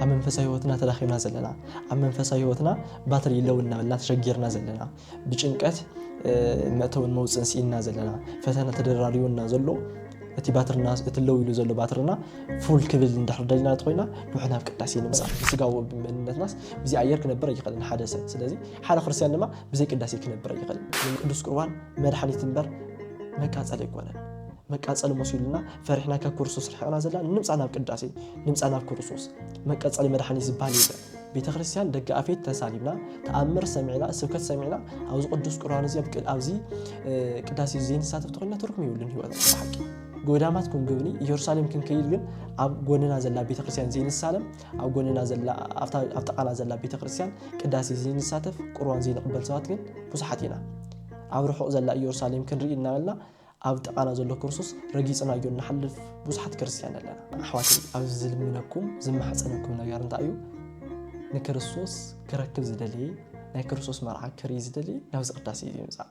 ኣብ መንፈሳዊ ህይወትና ተዳኺምና ዘለና ኣብ መንፈሳዊ ህይወትና ባትሪ ለው እናበልና ተሸጊርና ዘለና ብጭንቀት መእተውን መውፅን ስኢንና ዘለና ፈተና ተደራሪቡና ዘሎ እቲ ባትርና እቲ ለው ኢሉ ዘሎ ባትርና ፉል ክብል እንድሕር ደሊና እንተኮይና ንውሕ ናብ ቅዳሴ ንምፃእ ብስጋዊ መንነትናስ ብዚ ኣየር ክነብር ኣይኽእልን ሓደ ሰብ ስለዚ ሓደ ክርስትያን ድማ ብዘይ ቅዳሴ ክነብር ኣይኽእልን ቅዱስ ቁርባን መድሓኒት እምበር መቃፀል ኣይኮነን መቃፀል መሲሉና ፈሪሕና ካብ ክርስቶስ ርሒቕና ዘለና ንምፃእ ናብ ቅዳሴ ንምፃእ ናብ ክርስቶስ መቀፀሊ መድሓኒት ዝበሃል የለን ቤተ ክርስቲያን ደገ ኣፌት ተሳሊምና ተኣምር ሰሚዕና ስብከት ሰሚዕና ኣብዚ ቅዱስ ቁርባን እዚ ኣብዚ ቅዳሴ ዘይንሳተፍ ተኮይና ትርጉም ይብሉን ህይወትና ብሓቂ ጎዳማት ክንጉብኒ ኢየሩሳሌም ክንከይድ ግን ኣብ ጎንና ዘላ ቤተክርስትያን ዘይንሳለም ኣብ ጎንና ዘላ ኣብ ጥቃና ዘላ ቤተክርስትያን ቅዳሴ ዘይንሳተፍ ቁርባን ዘይንቕበል ሰባት ግን ብዙሓት ኢና ኣብ ርሑቕ ዘላ ኢየሩሳሌም ክንርኢ እናበልና ኣብ ጥቓና ዘሎ ክርስቶስ ረጊጽናዮ እንሓልፍ ብዙሓት ክርስትያን ኣለና። ኣሕዋት ኣብ ዝልምነኩም ዝማሕፀነኩም ነገር እንታይ እዩ? ንክርስቶስ ክረክብ ዝደልየ ናይ ክርስቶስ መርዓ ክርኢ ዝደልየ ናብዚ ቅዳሴ እዩ ይምፃእ።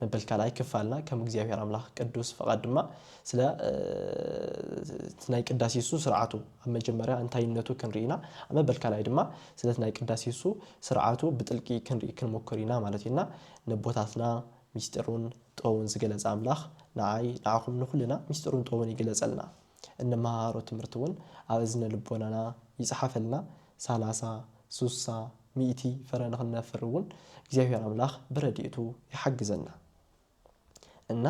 መበል ካልኣይ ክፋልና ከም እግዚኣብሔር ኣምላኽ ቅዱስ ፍቓድ ድማ ስለ እቲ ናይ ቅዳሴሱ ስርዓቱ ኣብ መጀመርያ እንታይነቱ ክንርኢ ኢና። ኣብ መበል ካልኣይ ድማ ስለቲ ናይ ቅዳሴሱ ስርዓቱ ብጥልቂ ክንርኢ ክንሙክር ኢና ማለት እዩ እና ነቦታትና ሚስጢሩን ጥበቡን ዝገለጸ ኣምላኽ ንዓይ ንዓኹም ንኹልና ሚስጢሩን ጥበቡን ይግለጸልና። እንመሃሮ ትምህርቲውን ኣብ እዝነ ልቦናና ይጽሓፈልና ሳላሳ፣ ሱሳ፣ ሚእቲ ፍረ ንኽነፍር እውን እግዚኣብሔር ኣምላኽ ብረድኤቱ ይሓግዘና እና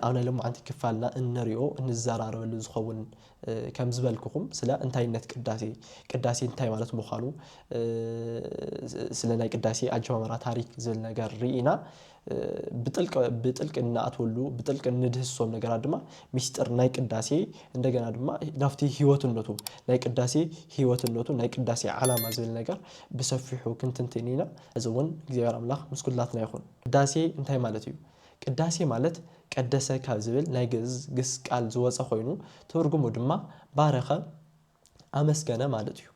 ኣብ ናይ ሎማዓንቲ ክፋልና እንሪኦ እንዘራረበሉ ዝኸውን ከም ዝበልኩኹም ስለ እንታይነት ቅዳሴ ቅዳሴ እንታይ ማለት ምዃኑ ስለ ናይ ቅዳሴ ኣጀማምራ ታሪክ ዝብል ነገር ርኢና ብጥልቂ ብጥልቂ እንኣትወሉ ብጥልቂ እንድህስሶም ነገራት ድማ ሚስጥር ናይ ቅዳሴ እንደገና ድማ ናብቲ ህይወትነቱ ናይ ቅዳሴ ህይወትነቱ ናይ ቅዳሴ ዓላማ ዝብል ነገር ብሰፊሑ ክንትንትን ኢና። እዚ እውን እግዚኣብሔር ኣምላኽ ምስ ኩላትና ይኹን። ቅዳሴ እንታይ ማለት እዩ? ቅዳሴ ማለት ቀደሰ ካብ ዝብል ናይ ግእዝ ግስ ቃል ዝወፀ ኮይኑ ትርጉሙ ድማ ባረኸ፣ ኣመስገነ ማለት እዩ።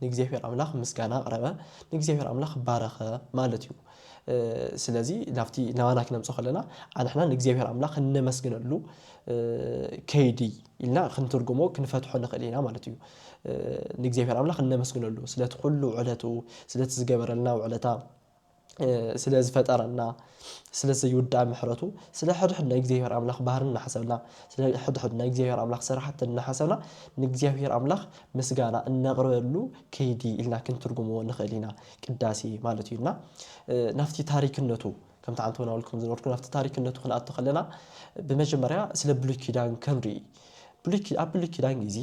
ንእግዚኣብሔር ኣምላኽ ምስጋና ኣቕረበ፣ ንእግዚኣብሔር ኣምላኽ ባረኸ ማለት እዩ። ስለዚ ናብቲ ናባና ክነምጾ ከለና ኣንሕና ንእግዚኣብሔር ኣምላኽ እነመስግነሉ ከይዲ ኢልና ክንትርጉሞ ክንፈትሖ ንኽእል ኢና ማለት እዩ። ንእግዚኣብሔር ኣምላኽ እነመስግነሉ ስለቲ ኩሉ ውዕለቱ ስለቲ ዝገበረልና ውዕለታ ስለ ዝፈጠረና ስለ ዘይውዳእ ምሕረቱ ስለ ሕድሕድ ናይ እግዚኣብሔር ኣምላኽ ባህርን እናሓሰብና ስለ ሕድሕድ ናይ እግዚኣብሔር ኣምላኽ ስራሕትን እናሓሰብና ንእግዚኣብሔር ኣምላኽ ምስጋና እነቕርበሉ ከይዲ ኢልና ክንትርጉምዎ ንኽእል ኢና ቅዳሴ ማለት እዩ እና ናብቲ ታሪክነቱ ከምቲ ዓንተ ወናውል ከም ዝነበርኩ ናብቲ ታሪክነቱ ክንኣቶ ከለና ብመጀመርያ ስለ ብሉይ ኪዳን ክንርኢ ኣብ ብሉይ ኪዳን ግዜ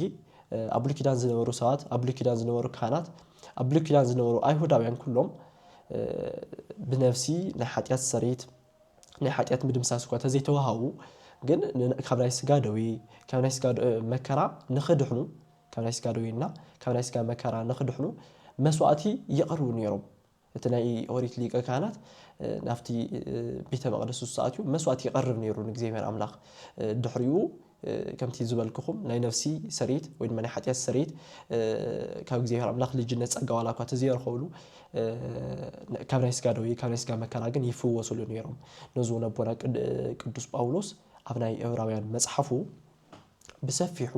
ኣብ ብሉይ ኪዳን ዝነበሩ ሰባት ኣብ ብሉይ ኪዳን ዝነበሩ ካህናት ኣብ ብሉይ ኪዳን ዝነበሩ ኣይሁዳውያን ኩሎም ብነፍሲ ናይ ሓጢኣት ሰሪት ናይ ሓጢኣት ምድምሳስ እኳ ተዘይተዋሃቡ ግን ካብ ናይ ስጋ ደዌ ካብ ናይ ስጋ መከራ ንኽድሕኑ ካብ ናይ ስጋ ደዌና ካብ ናይ ስጋ መከራ ንኽድሕኑ መስዋእቲ የቕርቡ ነይሮም እቲ ናይ ኦሪት ሊቀ ካህናት ናብቲ ቤተ መቅደስ ንሱ ኣትዩ መስዋእቲ ይቀርብ ነይሩ ንእግዚኣብሔር ኣምላኽ ድሕሪኡ ከምቲ ዝበልክኹም ናይ ነፍሲ ሰሬት ወይ ድማ ናይ ሓጢኣት ሰሬት ካብ እግዚኣብሔር ኣምላኽ ልጅነት ጸጋ ዋላ እኳ ተዘየረኸብሉ ካብ ናይ ስጋ ደዌ ካብ ናይ ስጋ መከራ ግን ይፍወሱሉ ነይሮም ነዚ እውን ኣቦና ቅዱስ ጳውሎስ ኣብ ናይ ዕብራውያን መጽሓፉ ብሰፊሑ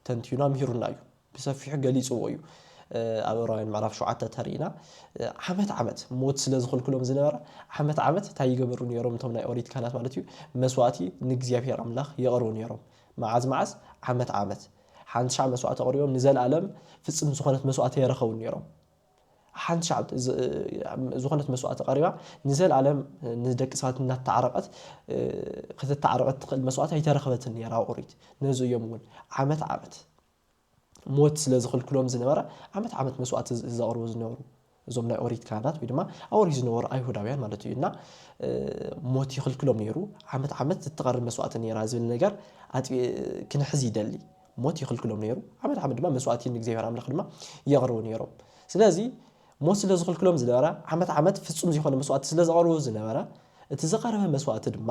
ተንቲኑ ኣምሂሩና እዩ ብሰፊሑ ገሊጽዎ እዩ። ኣብ ዕብራውያን ምዕራፍ ሸውዓተ እንተ ርኢና ዓመት ዓመት ሞት ስለ ዝኽልክሎም ዝነበረ ዓመት ዓመት እንታይ ይገበሩ ነይሮም እቶም ናይ ኦሪት ካህናት ማለት እዩ መስዋእቲ ንእግዚኣብሄር ኣምላኽ የቕርቡ ነይሮም መዓዝ መዓዝ ዓመት ዓመት ሓንቲ ሻዕ መስዋእቲ ኣቕሪቦም ንዘልኣለም ፍጽምቲ ዝኾነት መስዋእቲ ኣይረኸቡን ነይሮም ሓንቲ ሻዕ ዝኾነት መስዋእቲ ቀሪባ ንዘልኣለም ንደቂ ሰባት እናተዓረቐት ክትተዓረቐት ትኽእል መስዋእቲ ኣይተረኽበትን ነይራ ኣብ ኦሪት ነዚ እዮም እውን ዓመት ዓመት ሞት ስለ ዝኽልክሎም ዝነበረ ዓመት ዓመት መስዋእቲ ዘቕርቡ ዝነበሩ እዞም ናይ ኦሪት ካህናት ወይ ድማ ኣብ ኦሪት ዝነበሩ ኣይሁዳውያን ማለት እዩ እና ሞት ይኽልክሎም ነይሩ ዓመት ዓመት ዝትቐርብ መስዋእቲ ነይራ ዝብል ነገር ክንሕዝ ይደሊ ሞት ይኽልክሎም ነይሩ ዓመት ዓመት ድማ መስዋእቲ ንእግዚኣብሔር ኣምላኽ ድማ የቕርቡ ነይሮም ስለዚ ሞት ስለ ዝኽልክሎም ዝነበረ ዓመት ዓመት ፍጹም ዝኾነ መስዋእቲ ስለ ዘቐርቡ ዝነበረ እቲ ዝቐረበ መስዋእቲ ድማ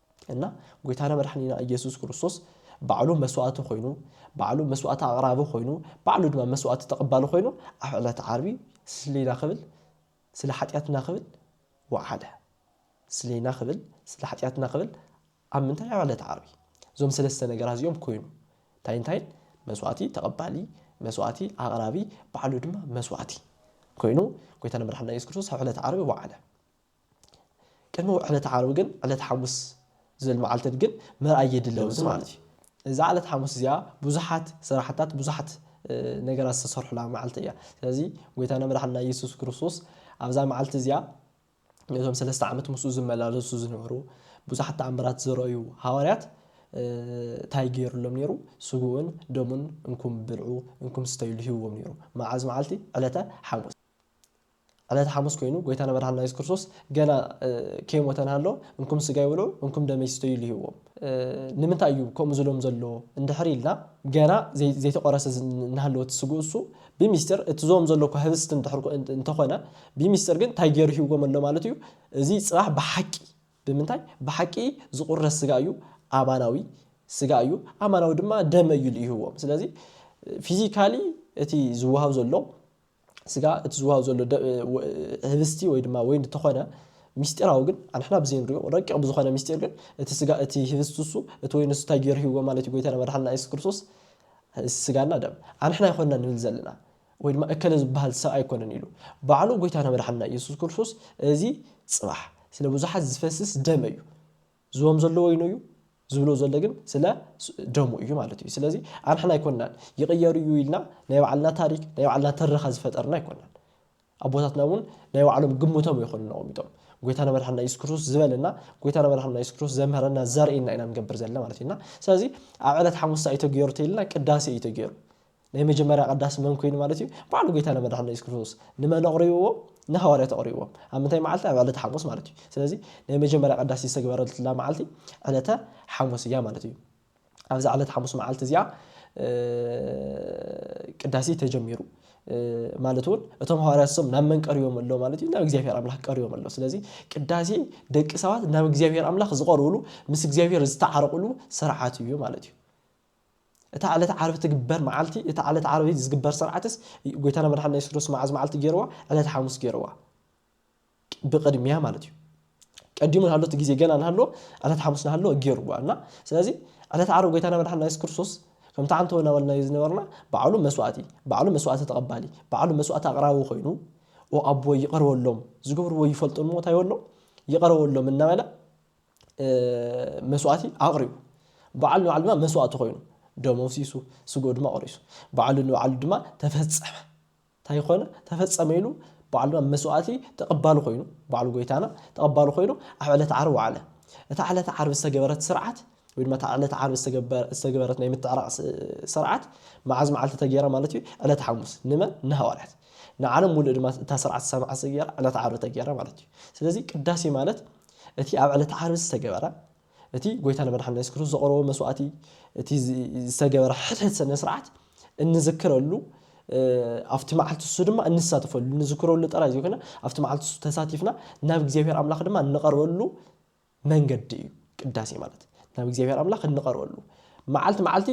እና ጎይታና መድሓኒና እየሱስ ክርስቶስ ባዕሉ መስዋእቲ ኮይኑ ባዕሉ መስዋእቲ ኣቕራቢ ኮይኑ ባዕሉ ድማ መስዋእቲ ተቐባሊ ኮይኑ ኣብ ዕለት ዓርቢ ስሌና ክብል ስለ ሓጢኣትና ክብል ወዓለ ስሌና ክብል ስለ ሓጢኣትና ክብል ኣብ ምንታይ ኣብ ዕለት ዓርቢ እዞም ሰለስተ ነገራት እዚኦም ኮይኑ እንታይ እንታይን መስዋእቲ ተቐባሊ መስዋእቲ ኣቕራቢ ባዕሉ ድማ መስዋእቲ ኮይኑ ጎይታና መድሓኒና ኢየሱስ ክርስቶስ ኣብ ዕለት ዓርቢ ወዓለ ቅድሚ ዕለተ ዓርቢ ግን ዕለተ ሓሙስ ዝብል መዓልትን ግን ምርኣይ የድሊ ኣብዚ ማለት እዩ። እዛ ዕለተ ሓሙስ እዚኣ ብዙሓት ስራሕታት ብዙሓት ነገራት ዝተሰርሑላ መዓልቲ እያ። ስለዚ ጎይታና መድሓኒና ኢየሱስ ክርስቶስ ኣብዛ መዓልቲ እዚኣ ነቶም ሰለስተ ዓመት ምስኡ ዝመላለሱ ዝነበሩ ብዙሓት ተኣምራት ዝረኣዩ ሃዋርያት እንታይ ገይሩሎም ነይሩ? ስግኡን ደሙን እንኩም ብልዑ እንኩም ስተዩሉ ሂብዎም ነይሩ። መዓዝ መዓልቲ? ዕለተ ሓሙስ። ዕለተ ሓሙስ ኮይኑ ጎይታና መድሓኒና የሱስ ክርስቶስ ገና ከይሞተ እንሃሎ እንኩም ስጋይ ብልዑ እንኩም ደመይ ስተዩ ኢሉ ሂብዎም። ንምንታይ እዩ ከምኡ ዝብሎም ዘሎ እንድሕር ኢልና ገና ዘይተቖረሰ እንሃለወ እቲ ስግኡ እሱ ብሚስጢር እቲ ዝቦም ዘሎ እኳ ህብስት እንድሕር እንተኾነ ብሚስጢር ግን እንታይ ገይሩ ሂብዎም ኣሎ ማለት እዩ እዚ ጽባሕ ብሓቂ ብምንታይ ብሓቂ ዝቑረስ ስጋ እዩ ኣማናዊ ስጋ እዩ ኣማናዊ ድማ ደመ እዩ ኢሉ ሂብዎም ስለዚ ፊዚካሊ እቲ ዝወሃብ ዘሎ ስጋ እቲ ዝወሃብ ዘሎ ህብስቲ ወይ ድማ ወይን እንተኾነ ሚስጢራዊ ግን ኣንሕና ብዘይንሪኦ ረቂቕ ብዝኾነ ሚስጢር ግን እቲ ስጋ እቲ ህብስቲ እሱ እቲ ወይን እሱ እንታይ ገይሩ ሂብዎ ማለት እዩ ጎይታና መድሓንና ኢየሱስ ክርስቶስ ስጋና ደም ኣንሕና ኣይኮንና ንብል ዘለና ወይ ድማ እከለ ዝበሃል ሰብ ኣይኮነን ኢሉ ባዕሉ ጎይታና መድሓንና ኢየሱስ ክርስቶስ እዚ ጽባሕ ስለ ብዙሓት ዝፈስስ ደመ እዩ ዝቦም ዘሎ ወይኑ እዩ ዝብሎ ዘሎ ግን ስለ ደሙ እዩ ማለት እዩ ስለዚ ኣንሕና ኣይኮናን ይቕየር እዩ ኢልና ናይ ባዕልና ታሪክ ናይ ባዕልና ትረኻ ዝፈጠርና ኣይኮናን ኣቦታትና እውን ናይ ባዕሎም ግምቶም ይኾኑ ነቐሚጦም ጎይታና መድሓና ኢየሱስ ክርስቶስ ዝበለና ጎይታና መድሓና ኢየሱስ ክርስቶስ ዘምህረና ዘርእየና ኢና ንገብር ዘለና ማለት እዩና ስለዚ ኣብ ዕለት ሓሙሳ እዩ ተገይሩ ተይልና ቅዳሴ እዩ ተገይሩ ናይ መጀመርያ ቀዳሲ መን ኮይኑ ማለት እዩ ባዕሉ ጎይታና መድሓኒና የሱስ ክርስቶስ ንመን ኣቕሪብዎም ንሃዋርያት ኣቕሪብዎም ኣብ ምንታይ መዓልቲ ኣብ ዕለተ ሓሙስ ማለት እዩ ስለዚ ናይ መጀመርያ ቀዳሲ ዝተግበረትላ መዓልቲ ዕለተ ሓሙስ እያ ማለት እዩ ኣብዛ ዕለተ ሓሙስ መዓልቲ እዚኣ ቅዳሴ ተጀሚሩ ማለት እውን እቶም ሃዋርያት ሶም ናብ መን ቀሪቦም ኣሎ ማለት እዩ ናብ እግዚኣብሔር ኣምላኽ ቀሪቦም ኣሎ ስለዚ ቅዳሴ ደቂ ሰባት ናብ እግዚኣብሔር ኣምላኽ ዝቐርብሉ ምስ እግዚኣብሔር ዝተዓረቕሉ ስርዓት እዩ ማለት እዩ እታ ዕለተ ዓርቢ ትግበር መዓልቲ እታ ዕለተ ዓርቢ ዝግበር ሰርዓትስ ጎይታና መድሓኒና የሱስ ክርስቶስ መዓዝ መዓልቲ ገይርዋ ዕለተ ሓሙስ ገይርዋ ብቅድሚያ ማለት እዩ ቀዲሙ ናሃሎ እቲ ግዜ ገና ናሃሎ ዕለተ ሓሙስ ናሃሎ ገይርዋ እና ስለዚ ዕለተ ዓርቢ ጎይታና መድሓኒና የሱስ ክርስቶስ ከምቲ ዓንተው እናበልናዮ ዝነበርና ባዕሉ መስዋእቲ ባዕሉ መስዋእቲ ተቐባሊ ባዕሉ መስዋእቲ ኣቕራቢ ኮይኑ ኦ ኣቦ ይቕር በሎም ዝገብርዎ ይፈልጡን እሞ እንታይ በሎም ይቕር በሎም እናበለ መስዋእቲ ኣቕሪቡ። በዓሉ ንባዕሉ ድማ መስዋእቲ ኮይኑ። ደሙ ኣፍሲሱ፣ ስግኡ ድማ ቖሪሱ። በዓሉ ንባዕሉ ድማ ተፈጸመ። እንታይ ኮነ? ተፈጸመ ኢሉ በዓሉ ድማ መስዋእቲ ተቐባሊ ኮይኑ፣ በዓሉ ጎይታና ተቐባሊ ኮይኑ ኣብ ዕለት ዓርቢ ወዓለ። እታ ዕለት ዓርቢ ዝተገበረት ስርዓት ወይ ድማ እታ ዕለት ዓርቢ ዝተገበረት ናይ ምትዕራቕ ስርዓት መዓዝ መዓልቲ ተገይራ ማለት እዩ? ዕለት ሓሙስ። ንመን? ንሃዋርያት። ንዓለም ሙሉእ ድማ እታ ስርዓት ዝሰማዕት ዝገይራ ዕለት ዓርቢ ተገይራ ማለት እዩ። ስለዚ ቅዳሴ ማለት እቲ ኣብ ዕለተ ዓርቢ ዝተገበረ እቲ ጎይታና መድሓኒና የሱስ ክርስቶስ ዘቕረቦ መስዋእቲ እቲ ዝተገበረ ሕድሕድ ስነ ስርዓት እንዝክረሉ ኣብቲ መዓልቲ እሱ ድማ እንሳተፈሉ እንዝክረሉ ጥራይ ዘይኮነ ኣብቲ መዓልቲ እሱ ተሳቲፍና ናብ እግዚኣብሔር ኣምላኽ ድማ እንቐርበሉ መንገዲ እዩ ቅዳሴ ማለት ናብ እግዚኣብሔር ኣምላኽ እንቐርበሉ መዓልቲ መዓልቲ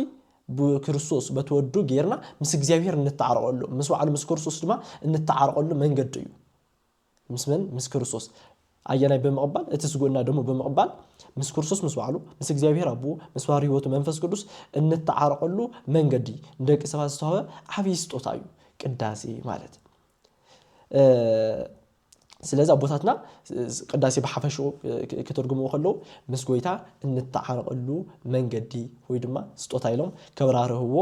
ብክርስቶስ በቲ ወዱ ጌርና ምስ እግዚኣብሔር እንተዓረቐሉ ምስ ባዕሉ ምስ ክርስቶስ ድማ እንተዓረቐሉ መንገዲ እዩ ምስ መን? ምስ ክርስቶስ። ኣየናይ ብምቕባል? እቲ ስግኡና ደሙ ብምቕባል ምስ ክርስቶስ ምስ ባዕሉ፣ ምስ እግዚኣብሔር ኣቦኡ፣ ምስ ባሕሪ ሕይወቱ መንፈስ ቅዱስ እንተዓረቐሉ መንገዲ ንደቂ ሰባት ዝተዋህበ ዓብይ ስጦታ እዩ ቅዳሴ ማለት። ስለዚ ኣቦታትና ቅዳሴ ብሓፈሽኡ ክትርጉምዎ ከለዉ ምስ ጎይታ እንተዓረቐሉ መንገዲ ወይ ድማ ስጦታ ኢሎም ከብራርህዎ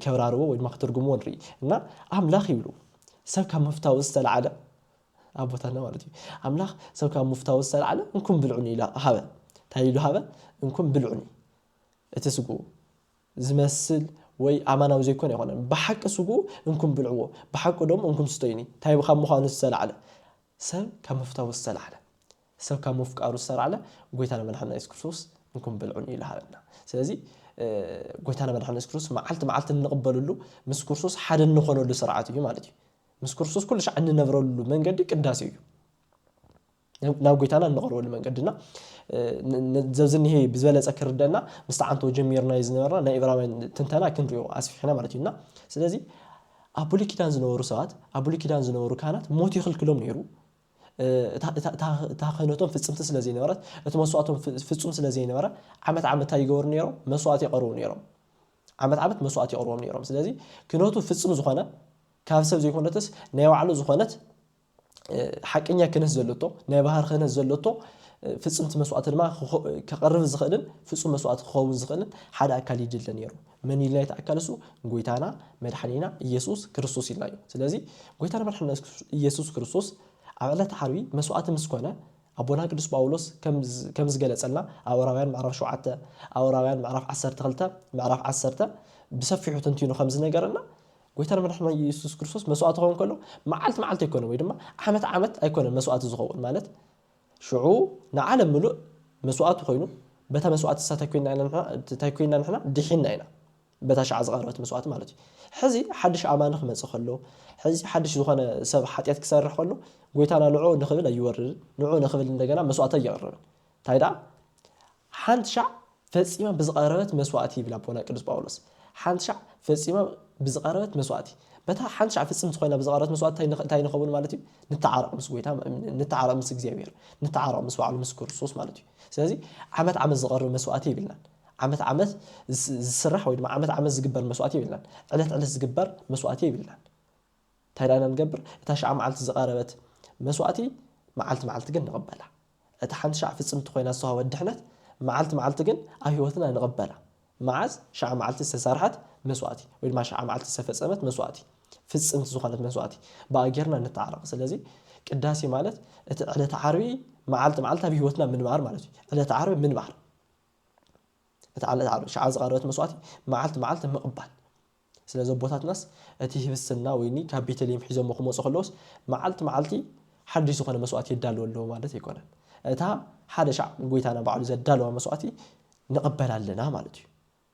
ከብራርዎ ወይ ድማ ክትርጉምዎ ንርኢ እና ኣምላኽ ይብሉ ሰብ ካብ ምፍታዉ ዝተልዓለ፣ ኣቦታትና ማለት እዩ፣ ኣምላኽ ሰብ ካብ ምፍታዉ ዝተልዓለ እንኩን ብልዑኒ ኢሉ ሃበ። እንታይ ኢሉ ሃበ? እንኩን ብልዑኒ። እቲ ስግኡ ዝመስል ወይ ኣማናዊ ዘይኮነ ኣይኮነን። ብሓቂ ስግኡ እንኩን ብልዕዎ፣ ብሓቂ ደሙ እንኩን ስተዩኒ። እንታይ ካብ ምዃኑ ዝተልዓለ? ሰብ ካብ ምፍታዉ ዝተልዓለ። ሰብ ካብ ምፍቃሩ ዝተላዕለ ጎይታና መድሓኒና የሱስ ክርስቶስ እንኩን ብልዑን እዩ ዝሃበና ስለዚ ጎይታና መድሓኒና የሱስ ክርስቶስ መዓልቲ መዓልቲ እንቕበለሉ ምስ ክርስቶስ ሓደ እንኾነሉ ስርዓት እዩ ማለት እዩ ምስ ክርስቶስ ኩሉ ሻዕ እንነብረሉ መንገዲ ቅዳሴ እዩ ናብ ጎይታና እንቐርበሉ መንገድና ዘብዚ እኒሄ ብዝበለፀ ክርደና ምስቲ ዓንቶ ጀሚርናዮ ዝነበርና ናይ እብራውያን ትንተና ክንሪኦ ኣስፊሕና ማለት እዩና ስለዚ ኣብ ብሉይ ኪዳን ዝነበሩ ሰባት ኣብ ብሉይ ኪዳን ዝነበሩ ካህናት ሞት ይኽልክሎም ነይሩ እታ ክህነቶም ፍጽምቲ ስለ ዘይነበረት፣ እቲ መስዋእቶም ፍጹም ስለ ዘይነበረ፣ ዓመት ዓመት እንታይ ይገብሩ ነይሮም? መስዋእቲ የቐርቡ ነይሮም። ዓመት ዓመት መስዋእቲ የቕርቦም ነይሮም። ስለዚ ክህነቱ ፍጽም ዝኾነ ካብ ሰብ ዘይኮነትስ ናይ ባዕሉ ዝኾነት ሓቀኛ ክህነት ዘለቶ ናይ ባህር ክህነት ዘለቶ ፍጽምቲ መስዋእቲ ድማ ከቐርብ ዝኽእልን ፍጹም መስዋእቲ ክኸውን ዝኽእልን ሓደ ኣካል ይድለ ነይሩ። መን ኢልና ይተኣካል እሱ ጎይታና መድሓኒና ኢየሱስ ክርስቶስ ኢልና እዩ ስለዚ ጎይታና መድሓኒና ኢየሱስ ክርስቶስ ኣብ ዕለት ዓርቢ መስዋዕቲ ምስ ኮነ ኣቦና ቅዱስ ጳውሎስ ከም ዝገለጸልና ኣብ ዕብራውያን ምዕራፍ 7 ኣብ ዕብራውያን ምዕራፍ 12 ምዕራፍ 10 ብሰፊሑ ተንቲኑ ከም ዝነገረና ጎይታና መድሓኒና ኢየሱስ ክርስቶስ መስዋዕቲ ክኸውን ከሎ መዓልቲ መዓልቲ ኣይኮነን ወይ ድማ ዓመት ዓመት ኣይኮነን መስዋዕቲ ዝኸውን ማለት ሽዑ ንዓለም ምሉእ መስዋእቲ ኮይኑ በታ መስዋእቲ ንሳ እንታይ ኮይና ንሕና ድሒንና ኢና በታ ሽዓ ዝቐረበት መስዋእቲ ማለት እዩ ሕዚ ሓድሽ ኣማኒ ክመጽእ ከሎ ሕዚ ሓድሽ ዝኾነ ሰብ ሓጢኣት ክሰርሕ ከሎ ጎይታና ንዕኡ ንክብል ኣይወርድን ንዕኡ ንክብል እንደገና መስዋእቲ ኣየቕርብን እንታይ ደኣ ሓንቲ ሻዕ ፈጺማ ብዝቐረበት መስዋእቲ ይብል ኣቦና ቅዱስ ጳውሎስ። ሓንቲ ሻዕ ፈጺማ ብዝቐረበት መስዋእቲ። በታ ሓንቲ ሻዕ ፍጽምቲ ኮይና ብዝቐረበት መስዋእቲ እንታይ ንኸውን ማለት እዩ? ንተዓረቕ ምስ ጎይታ፣ ንተዓረቕ ምስ እግዚኣብሔር፣ ንተዓረቕ ምስ ባዕሉ ምስ ክርስቶስ ማለት እዩ። ስለዚ ዓመት ዓመት ዝቐርብ መስዋእቲ የብልናን። ዓመት ዓመት ዝስራሕ ወይ ድማ ዓመት ዓመት ዝግበር መስዋእቲ የብልናን። ዕለት ዕለት ዝግበር መስዋእቲ የብልናን። እንታይ ደኣ ኢና ንገብር? እታ ሻዕ መዓልቲ ዝቐረበት መስዋእቲ መዓልቲ መዓልቲ ግን ንቕበላ። እታ ሓንቲ ሻዕ ፍጽምቲ ኮይና ዝተዋህበት ድሕነት መዓልቲ መዓልቲ ግን ኣብ ሕይወትና ንቕበላ። መዓዝ? ሻዕ መዓልቲ ዝተሰርሐት መስዋእቲ ወይ ድማ ሻዕ መዓልቲ ዝተፈጸመት መስዋእቲ፣ ፍጽምቲ ዝኾነት መስዋእቲ፣ ብኣ ጌርና ንተዓረቕ። ስለዚ ቅዳሴ ማለት እቲ ዕለተ ዓርቢ መዓልቲ መዓልቲ ኣብ ሕይወትና ምንባር ማለት እዩ። ዕለተ ዓርቢ ምንባር። እታ ዕለተ ዓርቢ ሻዕ ዝቐረበት መስዋእቲ መዓልቲ መዓልቲ ምቕባል። ስለዚ ኣቦታትናስ እቲ ህብስትና ወይኒ ካብ ቤተልሔም ሒዞሞ ክመጹ ከለዉስ መዓልቲ መዓልቲ ሓድሽ ዝኾነ መስዋእቲ የዳልዉ ኣለዉ ማለት ኣይኮነን። እታ ሓደ ሻዕ ጎይታና ባዕሉ ዘዳለዋ መስዋእቲ ንቕበል ኣለና ማለት እዩ።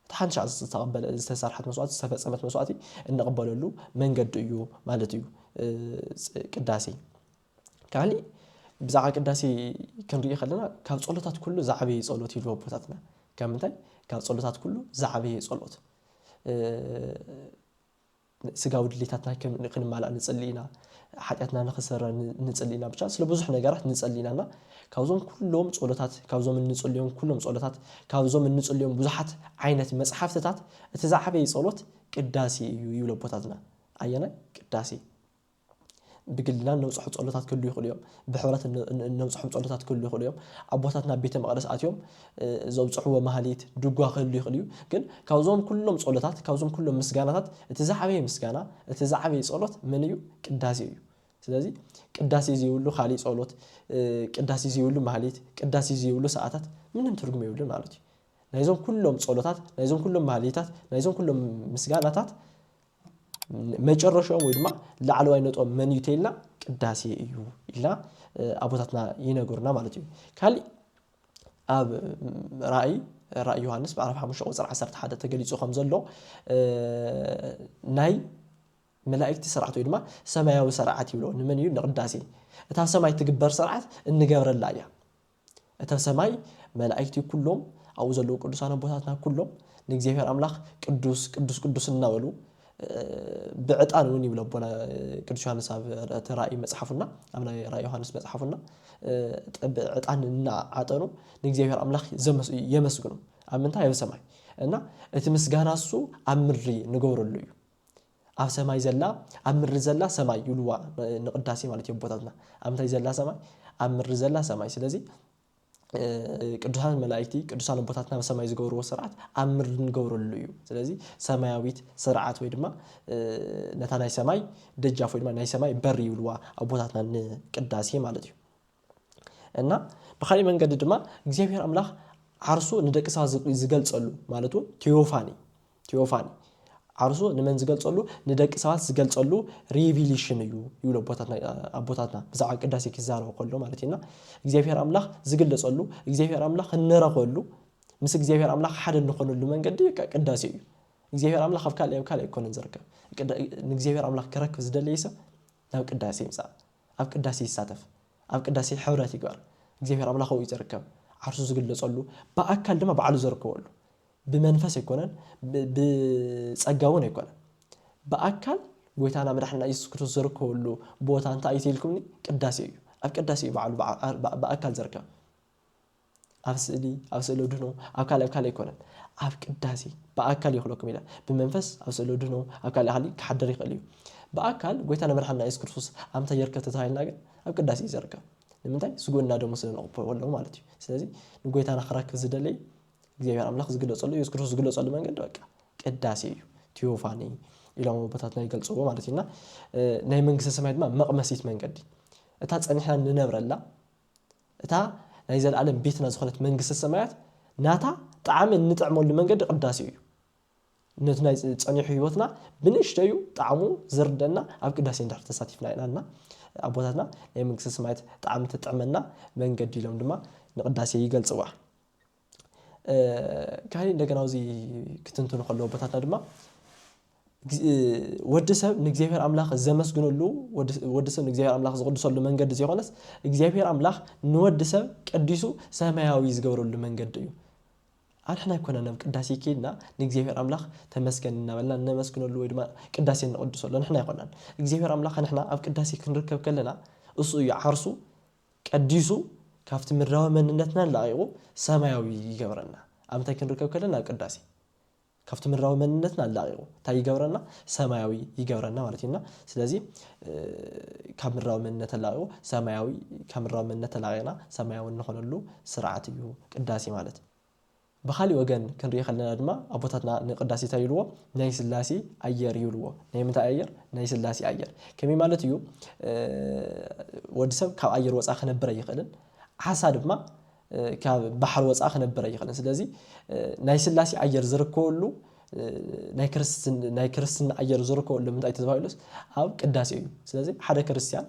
እታ ሓንቲ ሻዕ ዝተቐበለ ዝተሰርሐት መስዋእቲ ዝተፈጸመት መስዋእቲ እንቕበለሉ መንገዲ እዩ ማለት እዩ ቅዳሴ። ካሊእ ብዛዕባ ቅዳሴ ክንሪኢ ከለና ካብ ጸሎታት ኩሉ ዝዓበየ ጸሎት ይብሉ ኣቦታትና ካብ ምንታይ ካብ ጸሎታት ኩሉ ዝዓበየ ጸሎት ስጋዊ ድሌታትና ክንማላእ ንጽሊ ኢና ሓጢኣትና ንክሰረ ንጽሊ ኢና ብቻ ስለ ብዙሕ ነገራት ንጽሊ ኢና እና ካብዞም ኩሎም ጸሎታት ካብዞም እንጽልዮም ኩሎም ጸሎታት ካብዞም እንጽልዮም ብዙሓት ዓይነት መጽሓፍትታት እቲ ዝዓበየ ጸሎት ቅዳሴ እዩ ይብሉ ኣቦታትና ኣየናይ ቅዳሴ ብግልና እነብጽሖ ጸሎታት ክህልዉ ይኽእሉ እዮም። ብሕብረት እነብጽሖም ጸሎታት ክህልዉ ይኽእሉ እዮም። ኣቦታት ናብ ቤተ መቕደስ ኣትዮም ዘብጽሕዎ ማህሌት፣ ድጓ ክህሉ ይኽእል እዩ። ግን ካብዞም ኩሎም ጸሎታት፣ ካብዞም ኩሎም ምስጋናታት እቲ ዝዓበየ ምስጋና፣ እቲ ዝዓበየ ጸሎት መን እዩ? ቅዳሴ እዩ። ስለዚ ቅዳሴ ዘይብሉ ካልእ ጸሎት፣ ቅዳሴ ዘይብሉ ማህሌት፣ ቅዳሴ ዘይብሉ ሰዓታት ምንም ትርጉም የብሉን ማለት እዩ። ናይዞም ኩሎም ጸሎታት፣ ናይዞም ኩሎም ማህሌታት፣ ናይዞም ኩሎም ምስጋናታት መጨረሽኦም ወይ ድማ ላዕለዋይ ነጥቦም መን እዩ ተይልና ቅዳሴ እዩ ኢልና ኣቦታትና ይነገሩና ማለት እዩ ካሊእ ኣብ ራእይ ራእይ ዮሃንስ ምዕራፍ ሓሙሽተ ቁፅሪ ዓሰርተ ሓደ ተገሊፁ ከም ዘሎ ናይ መላእክቲ ስርዓት ወይ ድማ ሰማያዊ ስርዓት ይብሎ ንመን እዩ ንቅዳሴ እታ ሰማይ ትግበር ስርዓት እንገብረላ እያ እታ ሰማይ መላኢክቲ ኩሎም ኣብኡ ዘለዉ ቅዱሳን ኣቦታትና ኩሎም ንእግዚኣብሔር ኣምላኽ ቅዱስ ቅዱስ ቅዱስ እናበሉ ብዕጣን እውን ይብሎ ኣቦና ቅዱስ ዮሃንስ ኣብ እቲ ራእይ መጽሓፉና ኣብ ናይ ራእይ ዮሃንስ መጽሓፉና ዕጣን እናዓጠኑ ንእግዚኣብሔር ኣምላኽ የመስግኑ ኣብ ምንታይ ኣብ ሰማይ እና እቲ ምስጋና እሱ ኣብ ምድሪ ንገብረሉ እዩ ኣብ ሰማይ ዘላ ኣብ ምድሪ ዘላ ሰማይ ይብልዋ ንቅዳሴ ማለት እዩ ኣቦታትና ኣብ ምንታይ ዘላ ሰማይ ኣብ ምድሪ ዘላ ሰማይ ስለዚ ቅዱሳን መላእክቲ ቅዱሳን ኣቦታትና ኣብ ሰማይ ዝገብርዎ ስርዓት ኣብ ምድሪ ንገብረሉ እዩ ስለዚ ሰማያዊት ስርዓት ወይ ድማ ነታ ናይ ሰማይ ደጃፍ ወይ ድማ ናይ ሰማይ በሪ ይብልዋ ኣቦታትና ንቅዳሴ ማለት እዩ እና ብካሊእ መንገዲ ድማ እግዚኣብሔር ኣምላክ ዓርሱ ንደቂ ሰባት ዝገልፀሉ ማለት እውን ቴዎፋኒ ቴዎፋኒ ዓርሱ ንመን ዝገልፀሉ ንደቂ ሰባት ዝገልፀሉ ሪቪሊሽን እዩ ይብሉ ኣቦታትና ብዛዕባ ቅዳሴ ክዛረቡ ከሎ ማለት እዩና እግዚኣብሔር ኣምላክ ዝግለፀሉ እግዚኣብሔር ኣምላክ እንረኸሉ ምስ እግዚኣብሔር ኣምላክ ሓደ እንኾነሉ መንገዲ ቅዳሴ እዩ እግዚኣብሔር ኣምላክ ኣብ ካልእ ኣብ ካልእ ኣይኮነን ዝርከብ ንእግዚኣብሔር ኣምላክ ክረክብ ዝደለየ ሰብ ናብ ቅዳሴ ይምፃእ ኣብ ቅዳሴ ይሳተፍ ኣብ ቅዳሴ ሕብረት ይግበር እግዚኣብሔር ኣምላክ ኣብኡ እዩ ዝርከብ ዓርሱ ዝግለጸሉ ብኣካል ድማ ባዕሉ ዘርከበሉ ብመንፈስ ኣይኮነን ብጸጋ እውን ኣይኮነን ብኣካል ጎይታና መድሕና ኢየሱስ ክርስቶስ ዘርከበሉ ቦታ እንታይ እዩ ተኢልኩምኒ ቅዳሴ እዩ ኣብ ቅዳሴ እዩ ባዕሉ ብኣካል ዘርከብ ኣብ ስእሊ ኣብ ስእሊ ኣድህኖ ኣብ ካልእ ኣብ ካልእ ኣይኮነን ኣብ ቅዳሴ ብኣካል ይኽለኩም ይላል ብመንፈስ ኣብ ስእሊ ኣድህኖ ኣብ ካልእ ሃሊ ክሓድር ይኽእል እዩ ብኣካል ጎይታና መድሓንና ኢየሱስ ክርስቶስ ኣብ ምንታይ ይርከብ ተተባሂልና ግን ኣብ ቅዳሴ እዩ ዝርከብ ንምንታይ ስጉእና ደሙ ስለ ንቕበሎ ኣለዉ ማለት እዩ ስለዚ ንጎይታና ክረክብ ዝደለይ እግዚኣብሔር ኣምላኽ ዝግለጸሉ ኢየሱስ ክርስቶስ ዝግለጸሉ መንገዲ በቃ ቅዳሴ እዩ ቲዮፋኒ ኢሎም ኣቦታትና ይገልጽዎ ማለት እዩና ናይ መንግስተ ሰማይ ድማ መቕመሲት መንገዲ እታ ጸኒሕና ንነብረላ እታ ናይ ዘለኣለም ቤትና ዝኾነት መንግስተ ሰማያት ናታ ጣዕሚ እንጥዕመሉ መንገዲ ቅዳሴ እዩ። ነቲ ናይ ጸኒሑ ህይወትና ብንእሽተዩ ጣዕሙ ዝርደና ኣብ ቅዳሴ እንድሕር ተሳቲፍና ኢና እና ኣቦታትና ናይ መንግስተ ሰማያት ጣዕሚ ትጥዕመና መንገዲ ኢሎም ድማ ንቅዳሴ ይገልጽዋ። ካሊእ እንደገና ኣብዚ ክትንትኑ ከለዉ ኣቦታትና ድማ ወዲ ሰብ ንእግዚኣብሔር ኣምላኽ ዘመስግነሉ ወዲ ሰብ ንእግዚኣብሔር ኣምላኽ ዝቕድሰሉ መንገዲ ዘይኮነስ እግዚኣብሔር ኣምላኽ ንወዲ ሰብ ቀዲሱ ሰማያዊ ዝገብረሉ መንገዲ እዩ። ኣንሕና ኣይኮነን ኣብ ቅዳሴ ኬድና ንእግዚኣብሔር ኣምላኽ ተመስገን እናበልና እነመስግነሉ ወይ ድማ ቅዳሴ እንቕድሰሉ ንሕና ኣይኮናን እግዚኣብሔር ኣምላኽ ንሕና ኣብ ቅዳሴ ክንርከብ ከለና እሱ እዩ ዓርሱ ቀዲሱ ካብቲ ምድራዊ መንነትና ለቒቑ ሰማያዊ ይገብረና። ኣብ እንታይ ክንርከብ ከለና? ኣብ ቅዳሴ። ካብቲ ምድራዊ መንነትና ለቒቑ እንታይ ይገብረና? ሰማያዊ ይገብረና ማለት እዩ። እና ስለዚ ካብ ምድራዊ መንነት ተላቒቑ ሰማያዊ ካብ ምድራዊ መንነት ተላቒቕና ሰማያዊ እንኾነሉ ስርዓት እዩ ቅዳሴ ማለት። ብኻሊእ ወገን ክንሪኢ ከለና ድማ ኣቦታትና ንቅዳሴ ታይ ይብልዎ ናይ ስላሴ ኣየር ይብልዎ ናይ ምንታይ ኣየር ናይ ስላሴ ኣየር ከመይ ማለት እዩ ወዲ ሰብ ካብ ኣየር ወፃኢ ክነብር ኣይኽእልን ዓሳ ድማ ካብ ባሕሪ ወፃኢ ክነብር ኣይኽእልን ስለዚ ናይ ስላሴ ኣየር ዝርከበሉ ናይ ክርስትን ናይ ክርስትና ኣየር ዝርከበሉ ምንታይ ተባሂሉስ ኣብ ቅዳሴ እዩ ስለዚ ሓደ ክርስትያን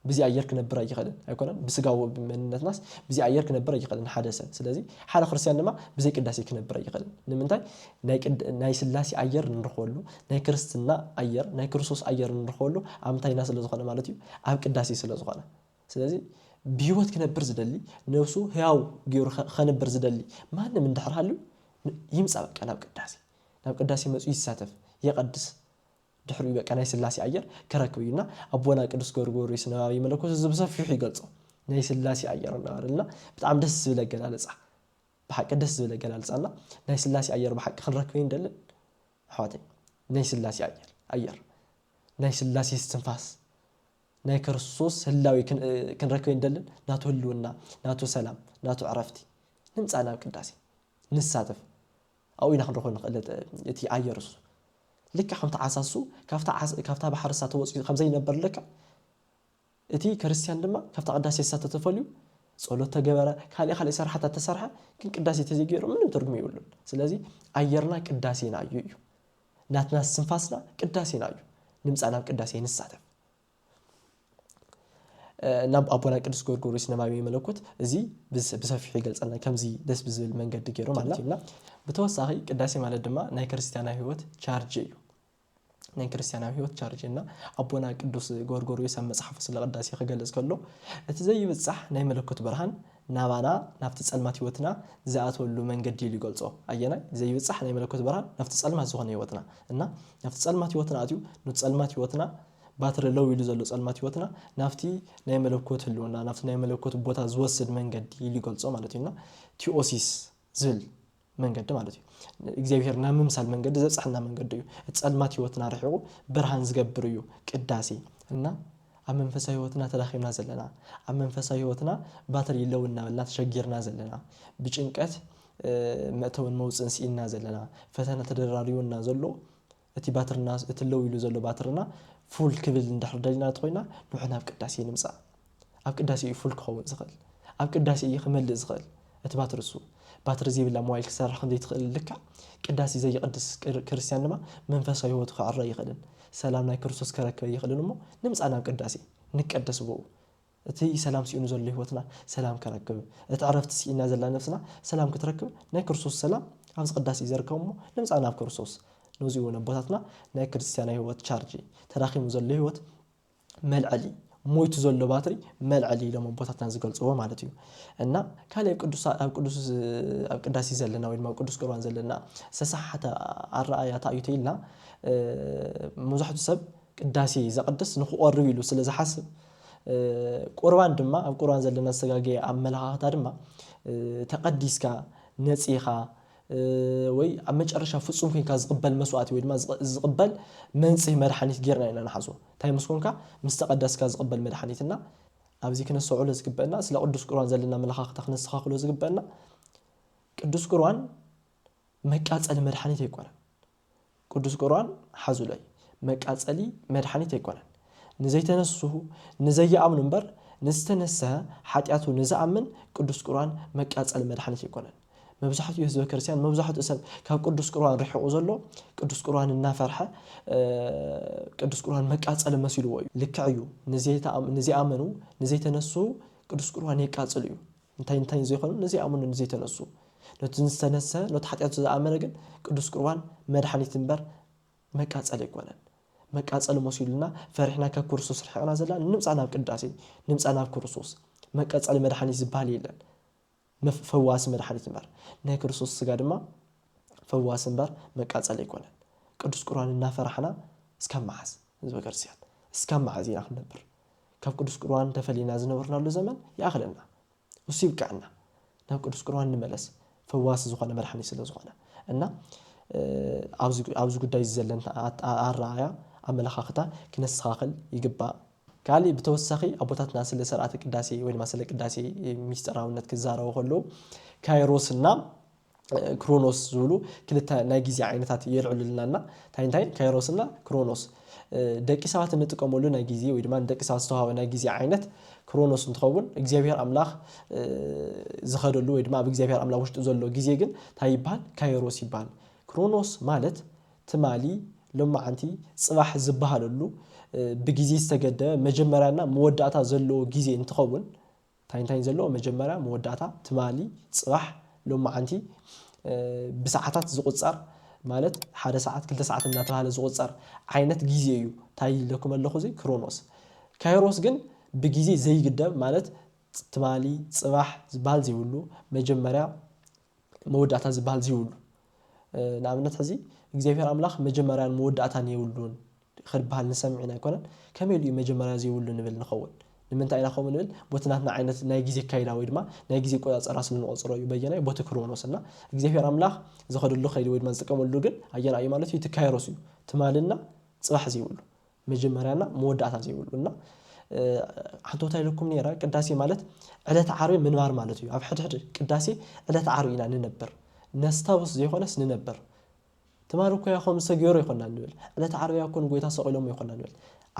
ብዚ ኣየር ክነብር ኣይኸልን ኣይኮነን ብስጋዊ መንነትናስ ብዚ ኣየር ክነብር ኣይኸልን ሓደ ሰብ ስለዚ ሓደ ክርስትያን ድማ ብዘይ ቅዳሴ ክነብር ኣይኸልን ንምንታይ ናይ ናይ ስላሴ ኣየር እንረኽበሉ ናይ ክርስትና ኣየር ናይ ክርስቶስ ኣየር እንረኽበሉ ኣብ ምንታይና ስለ ዝኾነ ማለት እዩ ኣብ ቅዳሴ ስለ ዝኾነ ስለዚ ብህይወት ክነብር ዝደሊ ነብሱ ህያው ገይሩ ከንብር ዝደሊ ማንም እንድሕር ሃልዩ ይምፃእ በቃ ናብ ቅዳሴ ናብ ቅዳሴ መፁ ይሳተፍ የቐድስ ድሕሪኡ በቃ ናይ ስላሴ ኣየር ክረክብ እዩ እና ኣቦና ቅዱስ ጎርጎርዮስ ነባቢ መለኮት እዚ ብሰፊሑ ይገልጾ ናይ ስላሴ ኣየር እናበለልና ብጣዕሚ ደስ ዝብል ኣገላልጻ ብሓቂ ደስ ዝብል ኣገላልጻ እና ናይ ስላሴ ኣየር ብሓቂ ክንረክብ ኣይንደልን ኣሕዋተይ ናይ ስላሴ ኣየር ኣየር ናይ ስላሴ እስትንፋስ ናይ ክርስቶስ ህላዊ ክንረክብ ኣይንደልን ናቱ ህልውና ናቱ ሰላም ናቱ ዕረፍቲ ንምጻእ ናብ ቅዳሴ ንሳተፍ ኣብኡ ኢና ክንረኽቦ እንኽእል እቲ ኣየር እሱ። ልክዕ ከምቲ ዓሳ እሱ ካብታ ባሕሪ እሳ ተወጺኡ ከም ዘይነበር ልክዕ እቲ ክርስትያን ድማ ካብታ ቅዳሴ እሳ ተተፈልዩ ጸሎት ተገበረ ካልእ ካልእ ስራሓታት ተሰርሐ ግን ቅዳሴ ተዘይገይሩ ምንም ትርጉም የብሉን። ስለዚ ኣየርና ቅዳሴና እዩ እዩ። ናትና ስንፋስና ቅዳሴና እዩ። ንምጻእ ናብ ቅዳሴ ንሳተፍ። ናብ ኣቦና ቅዱስ ጎርጎሪስ ነባቢ መለኮት እዚ ብሰፊሑ ይገልጸልና ከምዚ ደስ ብዝብል መንገዲ ገይሩ ማለት እዩና ብተወሳኺ ቅዳሴ ማለት ድማ ናይ ክርስትያናዊ ህይወት ቻርጅ እዩ ናይ ክርስትያናዊ ህይወት ቻርጅ እና ኣቦና ቅዱስ ጎርጎሪዮስ ኣብ መጽሓፉ ስለ ቅዳሴ ክገልጽ ከሎ እቲ ዘይብጻሕ ናይ መለኮት ብርሃን ናባና ናብቲ ጸልማት ህይወትና ዝኣተወሉ መንገዲ ኢሉ ይገልጾ ኣየናይ ዘይብጻሕ ናይ መለኮት ብርሃን ናብቲ ጸልማት ዝኾነ ህይወትና እና ናብቲ ጸልማት ህይወትና ኣትዩ ኑቲ ጸልማት ህይወትና ባትሪ ለው ኢሉ ዘሎ ጸልማት ህይወትና ናብቲ ናይ መለኮት ህልውና ናብቲ ናይ መለኮት ቦታ ዝወስድ መንገዲ ኢሉ ይገልጾ ማለት እዩና ቲኦሲስ ዝብል መንገዲ ማለት እዩ እግዚኣብሄር ናብ ምምሳል መንገዲ ዘብፅሐና መንገዲ እዩ እቲ ጸልማት ህይወትና ርሒቑ ብርሃን ዝገብር እዩ ቅዳሴ እና ኣብ መንፈሳዊ ህይወትና ተዳኺምና ዘለና ኣብ መንፈሳዊ ህይወትና ባትሪ ይለው እናበልና ተሸጊርና ዘለና ብጭንቀት መእተውን መውጽእን ስኢንና ዘለና ፈተነ ተደራሪቡና ዘሎ እቲ ባትርና እቲ ለው ኢሉ ዘሎ ባትርና ፉል ክብል እንድሕር ደሊና እንተኾይና ንውሕ ናብ ቅዳሴ ንምጻእ ኣብ ቅዳሴ እዩ ፉል ክኸውን ዝኽእል ኣብ ቅዳሴ እዩ ክመልእ ዝኽእል እቲ ባትሪ እሱ ባትሪ ዘይብላ ሞባይል ክትሰርሕ ከም ዘይትኽእል ልክዕ ቅዳሴ ዘይቅድስ ክርስትያን ድማ መንፈሳዊ ህይወቱ ክዕረ ኣይኽእልን ሰላም ናይ ክርስቶስ ከረክበ ኣይኽእልን እሞ ንምጻእ ናብ ቅዳሴ ንቀደስ ብኡ እቲ ሰላም ሲኢኑ ዘሎ ህይወትና ሰላም ከረክብ፣ እቲ ዕረፍቲ ሲኢና ዘላ ነፍስና ሰላም ክትረክብ ናይ ክርስቶስ ሰላም ኣብዚ ቅዳሴ ይዘርጋው እሞ ንምጻእ ናብ ክርስቶስ። ነዙይ እውን ኣቦታትና ናይ ክርስትያናዊ ህይወት ቻርጅ፣ ተዳኺሙ ዘሎ ህይወት መልዐሊ፣ ሞይቱ ዘሎ ባትሪ መልዐሊ ኢሎም ኣቦታትና ዝገልጽዎ ማለት እዩ። እና ካልእ ኣብ ቅዱስ ኣብ ቅዳሴ ዘለና ወይ ድማ ኣብ ቅዱስ ቁርባን ዘለና ዝተሰሓሓተ ኣረኣእያ እንታይ እዩ ተይልና መብዛሕትኡ ሰብ ቅዳሴ ዘቕድስ ንክቖርብ ኢሉ ስለ ዝሓስብ ቁርባን ድማ ኣብ ቁርባን ዘሎ መሰጋገያ ኣመለኻኽታ ድማ ተቐዲስካ፣ ነጺኻ፣ ወይ ኣብ መጨረሻ ፍጹም ኮይንካ ዝቕበል መስዋእቲ ወይ ድማ ዝቕበል መንጽሂ መድሓኒት ጌርና ኢና ንሓስቦ። እንታይ ምስ ኮንካ? ምስ ተቐደስካ ዝቕበል መድሓኒት እና ኣብዚ ክነስተውዕሎ ዝግበእና ስለ ቅዱስ ቁርባን ዘለና ኣመለኻኽታ ክነስተኻኽሎ ዝግበእና ቅዱስ ቁርባን መቃጸሊ መድሓኒት ኣይኮነን። ቅዱስ ቁርኣን ሓዙለይ መቃጸሊ መድሓኒት ኣይኮነን ንዘይተነስሁ ንዘይኣምኑ እምበር ንዝተነሰሀ ሓጥያቱ ንዝኣምን ቅዱስ ቁርኣን መቃጸሊ መድሓኒት ኣይኮነን መብዛሕትኡ ህዝበ ክርስትያን መብዛሕትኡ ሰብ ካብ ቅዱስ ቁርኣን ርሒቑ ዘሎ ቅዱስ ቁርኣን እናፈርሐ ቅዱስ ቁርኣን መቃጸሊ መሲልዎ እዩ ልክዕ እዩ ንዘይኣመኑ ንዘይተነስሁ ቅዱስ ቁርኣን የቃጽል እዩ እንታይን እንታይን ዘይኮኑ ነዚ ይኣምኑ ነዚ ተነሱ ነቲ ዝተነሰ ነቲ ሓጢኣቱ ዝኣመነ ግን ቅዱስ ቁርባን መድሓኒት እምበር መቃጸሊ ኣይኮነን መቃጸሊ መሲሉና ፈሪሕና ካብ ክርስቶስ ርሒቕና ዘለና ንምጻእ ናብ ቅዳሴ ንምጻእ ናብ ክርስቶስ መቀጸሊ መድሓኒት ዝበሃል የለን ፈዋሲ መድሓኒት እምበር ናይ ክርስቶስ ስጋ ድማ ፈዋሲ እምበር መቃጸሊ ኣይኮነን ቅዱስ ቁርባን እናፈራሕና እስካብ መዓዝ ህዝበ ክርስቲያን እስካብ መዓዝ ኢና ክንነብር ካብ ቅዱስ ቁርባን ተፈሊና ዝነበርናሉ ዘመን ይኣኽለና እሱ ይብቀዐና ናብ ቅዱስ ቁርባን ንመለስ ፈዋሲ ዝኾነ መድሓኒት ስለ ዝኾነ እና ኣብዚ ጉዳይ እዚ ዘለን ኣረኣእያ ኣመለኻኽታ ክነስተኻኽል ይግባእ። ካሊእ ብተወሳኺ ኣቦታትና ስለ ሰርዓተ ቅዳሴ ወይ ድማ ስለ ቅዳሴ ሚስጥራውነት ክዛረቡ ከለዉ ካይሮስ እና ክሮኖስ ዝብሉ ክልተ ናይ ግዜ ዓይነታት የልዕሉልና እና እንታይ እንታይ ካይሮስ እና ክሮኖስ ደቂ ሰባት እንጥቀመሉ ናይ ግዜ ወይ ድማ ንደቂ ሰባት ዝተዋሃበ ናይ ግዜ ዓይነት ክሮኖስ እንትኸውን እግዚኣብሔር ኣምላኽ ዝኸደሉ ወይ ድማ ኣብ እግዚኣብሔር ኣምላኽ ውሽጢ ዘሎ ግዜ ግን እንታይ ይበሃል ካይሮስ ይበሃል ክሮኖስ ማለት ትማሊ ሎመዓንቲ ፅባሕ ዝበሃለሉ ብግዜ ዝተገደበ መጀመርያ እና መወዳእታ ዘለዎ ግዜ እንትኸውን ታይ ታይ ዘለዎ መጀመርያ መወዳእታ ትማሊ ፅባሕ ሎማዓንቲ ብሳዓታት ዝቁፀር ማለት ሓደ ሳዓት ክልተ ሳዓት እናተባህለ ዝቁፀር ዓይነት ግዜ እዩ ታይ ኢለኩም ኣለኩ እዚ ክሮኖስ ካይሮስ ግን ብግዜ ዘይግደብ ማለት ትማሊ ፅባሕ ዝባሃል ዘይብሉ መጀመርያ መወዳእታ ዝብሃል ዝይብሉ ንኣብነት ሕዚ እግዚኣብሔር ኣምላኽ መጀመርያን መወዳእታን የብሉን ኽድብሃል ንሰምዕ ኢና ኣይኮነን ከመይ ኢሉ እዩ መጀመርያ ዘይብሉ ንብል ንኸውን ንምንታይ ኢና ከምኡ ንብል ቦቲ ናትና ዓይነት ናይ ግዜ ኣካይዳ ወይ ድማ ናይ ግዜ ኣቆጻጽራ ስለ ንቖጽሮ እዩ በየናይ ቦቲ ክሮኖስ እና እግዚኣብሔር ኣምላኽ ዝኸደሉ ከይዲ ወይ ድማ ዝጥቀመሉ ግን ኣየናይ እዩ ማለት እዩ እቲ ካይሮስ እዩ ትማሊ እና ጽባሕ ዘይብሉ መጀመርያ እና መወዳእታ ዘይብሉ እና ዓንቶታ ኢለኩም ነይረ ቅዳሴ ማለት ዕለት ዓርቢ ምንባር ማለት እዩ ኣብ ሕድሕድ ቅዳሴ ዕለት ዓርቢ ኢና ንነብር ነስታውስ ዘይኮነስ ንነብር ትማል እኮ ያ ከምዚ ተገይሩ ይኮና ንብል ዕለት ዓርቢ ያ እኮ ንጎይታ ሰቂሎሞ ይኮና ንብል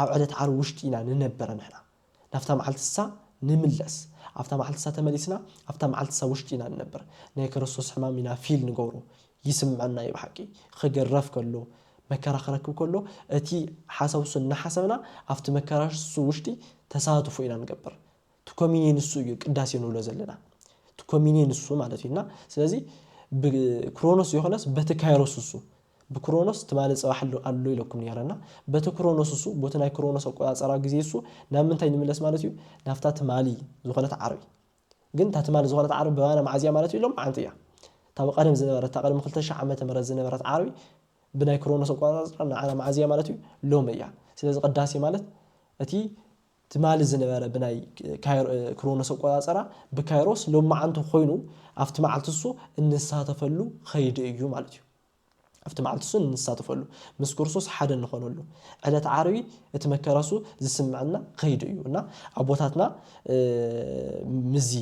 ኣብ ዕለት ዓርቢ ውሽጢ ኢና ንነብር ንሕና ናብታ መዓልቲ እሳ ንምለስ ኣብታ መዓልቲ እሳ ተመሊስና ኣብታ መዓልቲ እሳ ውሽጢ ኢና ንነብር ናይ ከረስቶስ ሕማም ኢና ፊል ንገብሮ ይስምዐና እዩ ብሓቂ ኽግረፍ ከሎ መከራ ኽረክብ ከሎ እቲ ሓሳብ እሱ እናሓሰብና ኣብቲ መከራ እሱ ውሽጢ ተሳትፎ ኢና ንገብር እቲ ኮሚኒየን እሱ እዩ ቅዳሴ ንብሎ ዘለና እቲ ኮሚኒየን እሱ ማለት እዩ እና ስለዚ ብክሮኖስ ዘይኾነስ በቲ ካይሮስ እሱ ብክሮኖስ ትማሊ ጽባሕ ኣሎ ኣሎ ኢለኩም ኔረ እና በቲ ክሮኖስ እሱ ቦቲ ናይ ክሮኖስ ኣቆጻጸራ ግዜ እሱ ናብ ምንታይ ንምለስ ማለት እዩ ናብታ ትማሊ ዝኾነት ዓርቢ ግን እታ ትማሊ ዝኾነት ዓርቢ ብባና መዓዝ እያ ማለት እዩ ሎምዓንቲ እያ እታ ብቀደም ዝነበረት እታ ቅድሚ ክልተ ሽሕ ዓመተ ምህረት ዝነበረት ዓርቢ ብናይ ክሮኖስ ኣቆጻጸራ ንዓና መዓዝ እያ ማለት እዩ ሎሚ እያ ስለዚ ቅዳሴ ማለት እቲ ትማሊ ዝነበረ ብናይ ክሮኖስ ኣቆጻጽራ ብካይሮስ ሎምዓንቲ ኮይኑ ኣብቲ መዓልቲ እሱ እንሳተፈሉ ኸይዲ እዩ ማለት እዩ። ኣብቲ መዓልቲ እሱ እንሳተፈሉ ምስ ክርስቶስ ሓደ እንኾነሉ ዕለት ዓርቢ እቲ መከራ እሱ ዝስምዐና ኸይዲ እዩ እና ኣቦታትና ምስዚ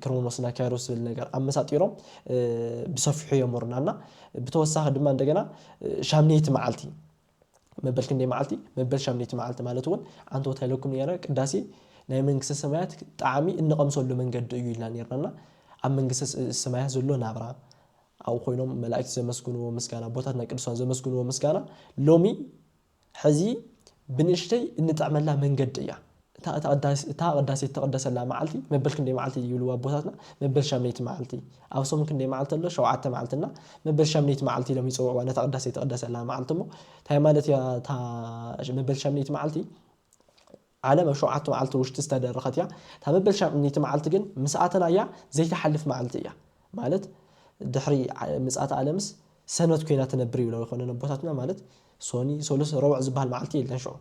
ክሮኖስ እና ካይሮስ ዝብል ነገር ኣመሳጢሮም ብሰፊሑ የምህሩና እና ብተወሳኺ ድማ እንደገና ሻምነይቲ መዓልቲ መበል ክንደይ መዓልቲ መበል ሻምነይቲ መዓልቲ ማለት እውን ዓንተወት ሃይለኩም ነይረ ቅዳሴ ናይ መንግስተ ሰማያት ጣዕሚ እንቐምሰሉ መንገዲ እዩ ኢልና ነርናና ኣብ መንግስተ ሰማያት ዘሎ ናብራ ኣብኡ ኮይኖም መላእክቲ ዘመስግንዎ ምስጋና ኣቦታትና ቅዱሳን ዘመስግንዎ ምስጋና ሎሚ ሕዚ ብንእሽተይ እንጥዕመላ መንገዲ እያ እታ እታ ቅዳሴ እትቅደሰላ መዓልቲ መበል ክንደይ መዓልቲ ይብልዋ ኣቦታትና መበል ሻምነይቲ መዓልቲ ኣብ ሶም ክንደይ መዓልቲ ኣሎ ሸውዓተ መዓልቲ እና መበል ሻምነይቲ መዓልቲ ኢሎም ይጽውዕዋ ነታ ቅዳሴ እትቅደሰላ መዓልቲ እሞ ታይ ማለት እያ እታ መበል ሻምነይቲ መዓልቲ ዓለም ኣብ ሸውዓተ መዓልቲ ውሽጢ ዝተደረኸት እያ እታ መበል ሻምነይቲ መዓልቲ ግን ምስ ኣተናያ ዘይትሓልፍ መዓልቲ እያ ማለት ድሕሪ ምጽኣተ ኣለምስ ሰንበት ኮይና ትነብር ይብልዋ ይኾነን ኣቦታትና ማለት ሶኒ ሰሉስ ረቡዕ ዝብሃል መዓልቲ የለን ሽዑ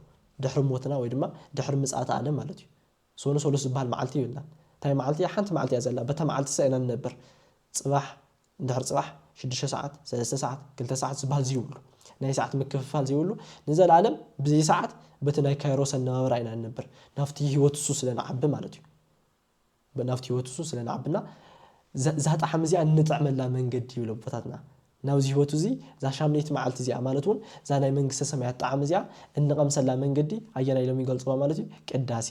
ድሕሪ ሞትና ወይ ድማ ድሕሪ ምጽኣተ ኣለም ማለት እዩ። ሶኑ ሰሉስ ዝበሃል መዓልቲ የብልናን። እንታይ መዓልቲ እያ? ሓንቲ መዓልቲ እያ ዘላ። በታ መዓልቲ ሰ ኢና ንነብር። ጽባሕ፣ ድሕሪ ጽባሕ፣ ሽዱሽተ ሰዓት፣ ሰለስተ ሰዓት፣ ክልተ ሰዓት ዝበሃል ዝይብሉ። ናይ ሰዓት ምክፍፋል ዘይብሉ፣ ንዘለኣለም ብዘይሰዓት በቲ ናይ ካይሮስ ኣነባብራ ኢና ንነብር። ናብቲ ህይወት እሱ ስለ ንዓቢ ማለት እዩ። ናብቲ ህይወት እሱ ስለ ንዓብና እዛ ጣዕሚ እዚኣ እንጥዕመላ መንገዲ ይብሉ ኣቦታትና ናብዚ ህይወት እዚ እዛ ሻምነይቲ መዓልቲ እዚኣ ማለት እውን እዛ ናይ መንግስተ ሰማያት ጣዕሚ እዚኣ እንቐምሰላ መንገዲ ኣየና ኢሎም ይገልፅዋ ማለት እዩ ቅዳሴ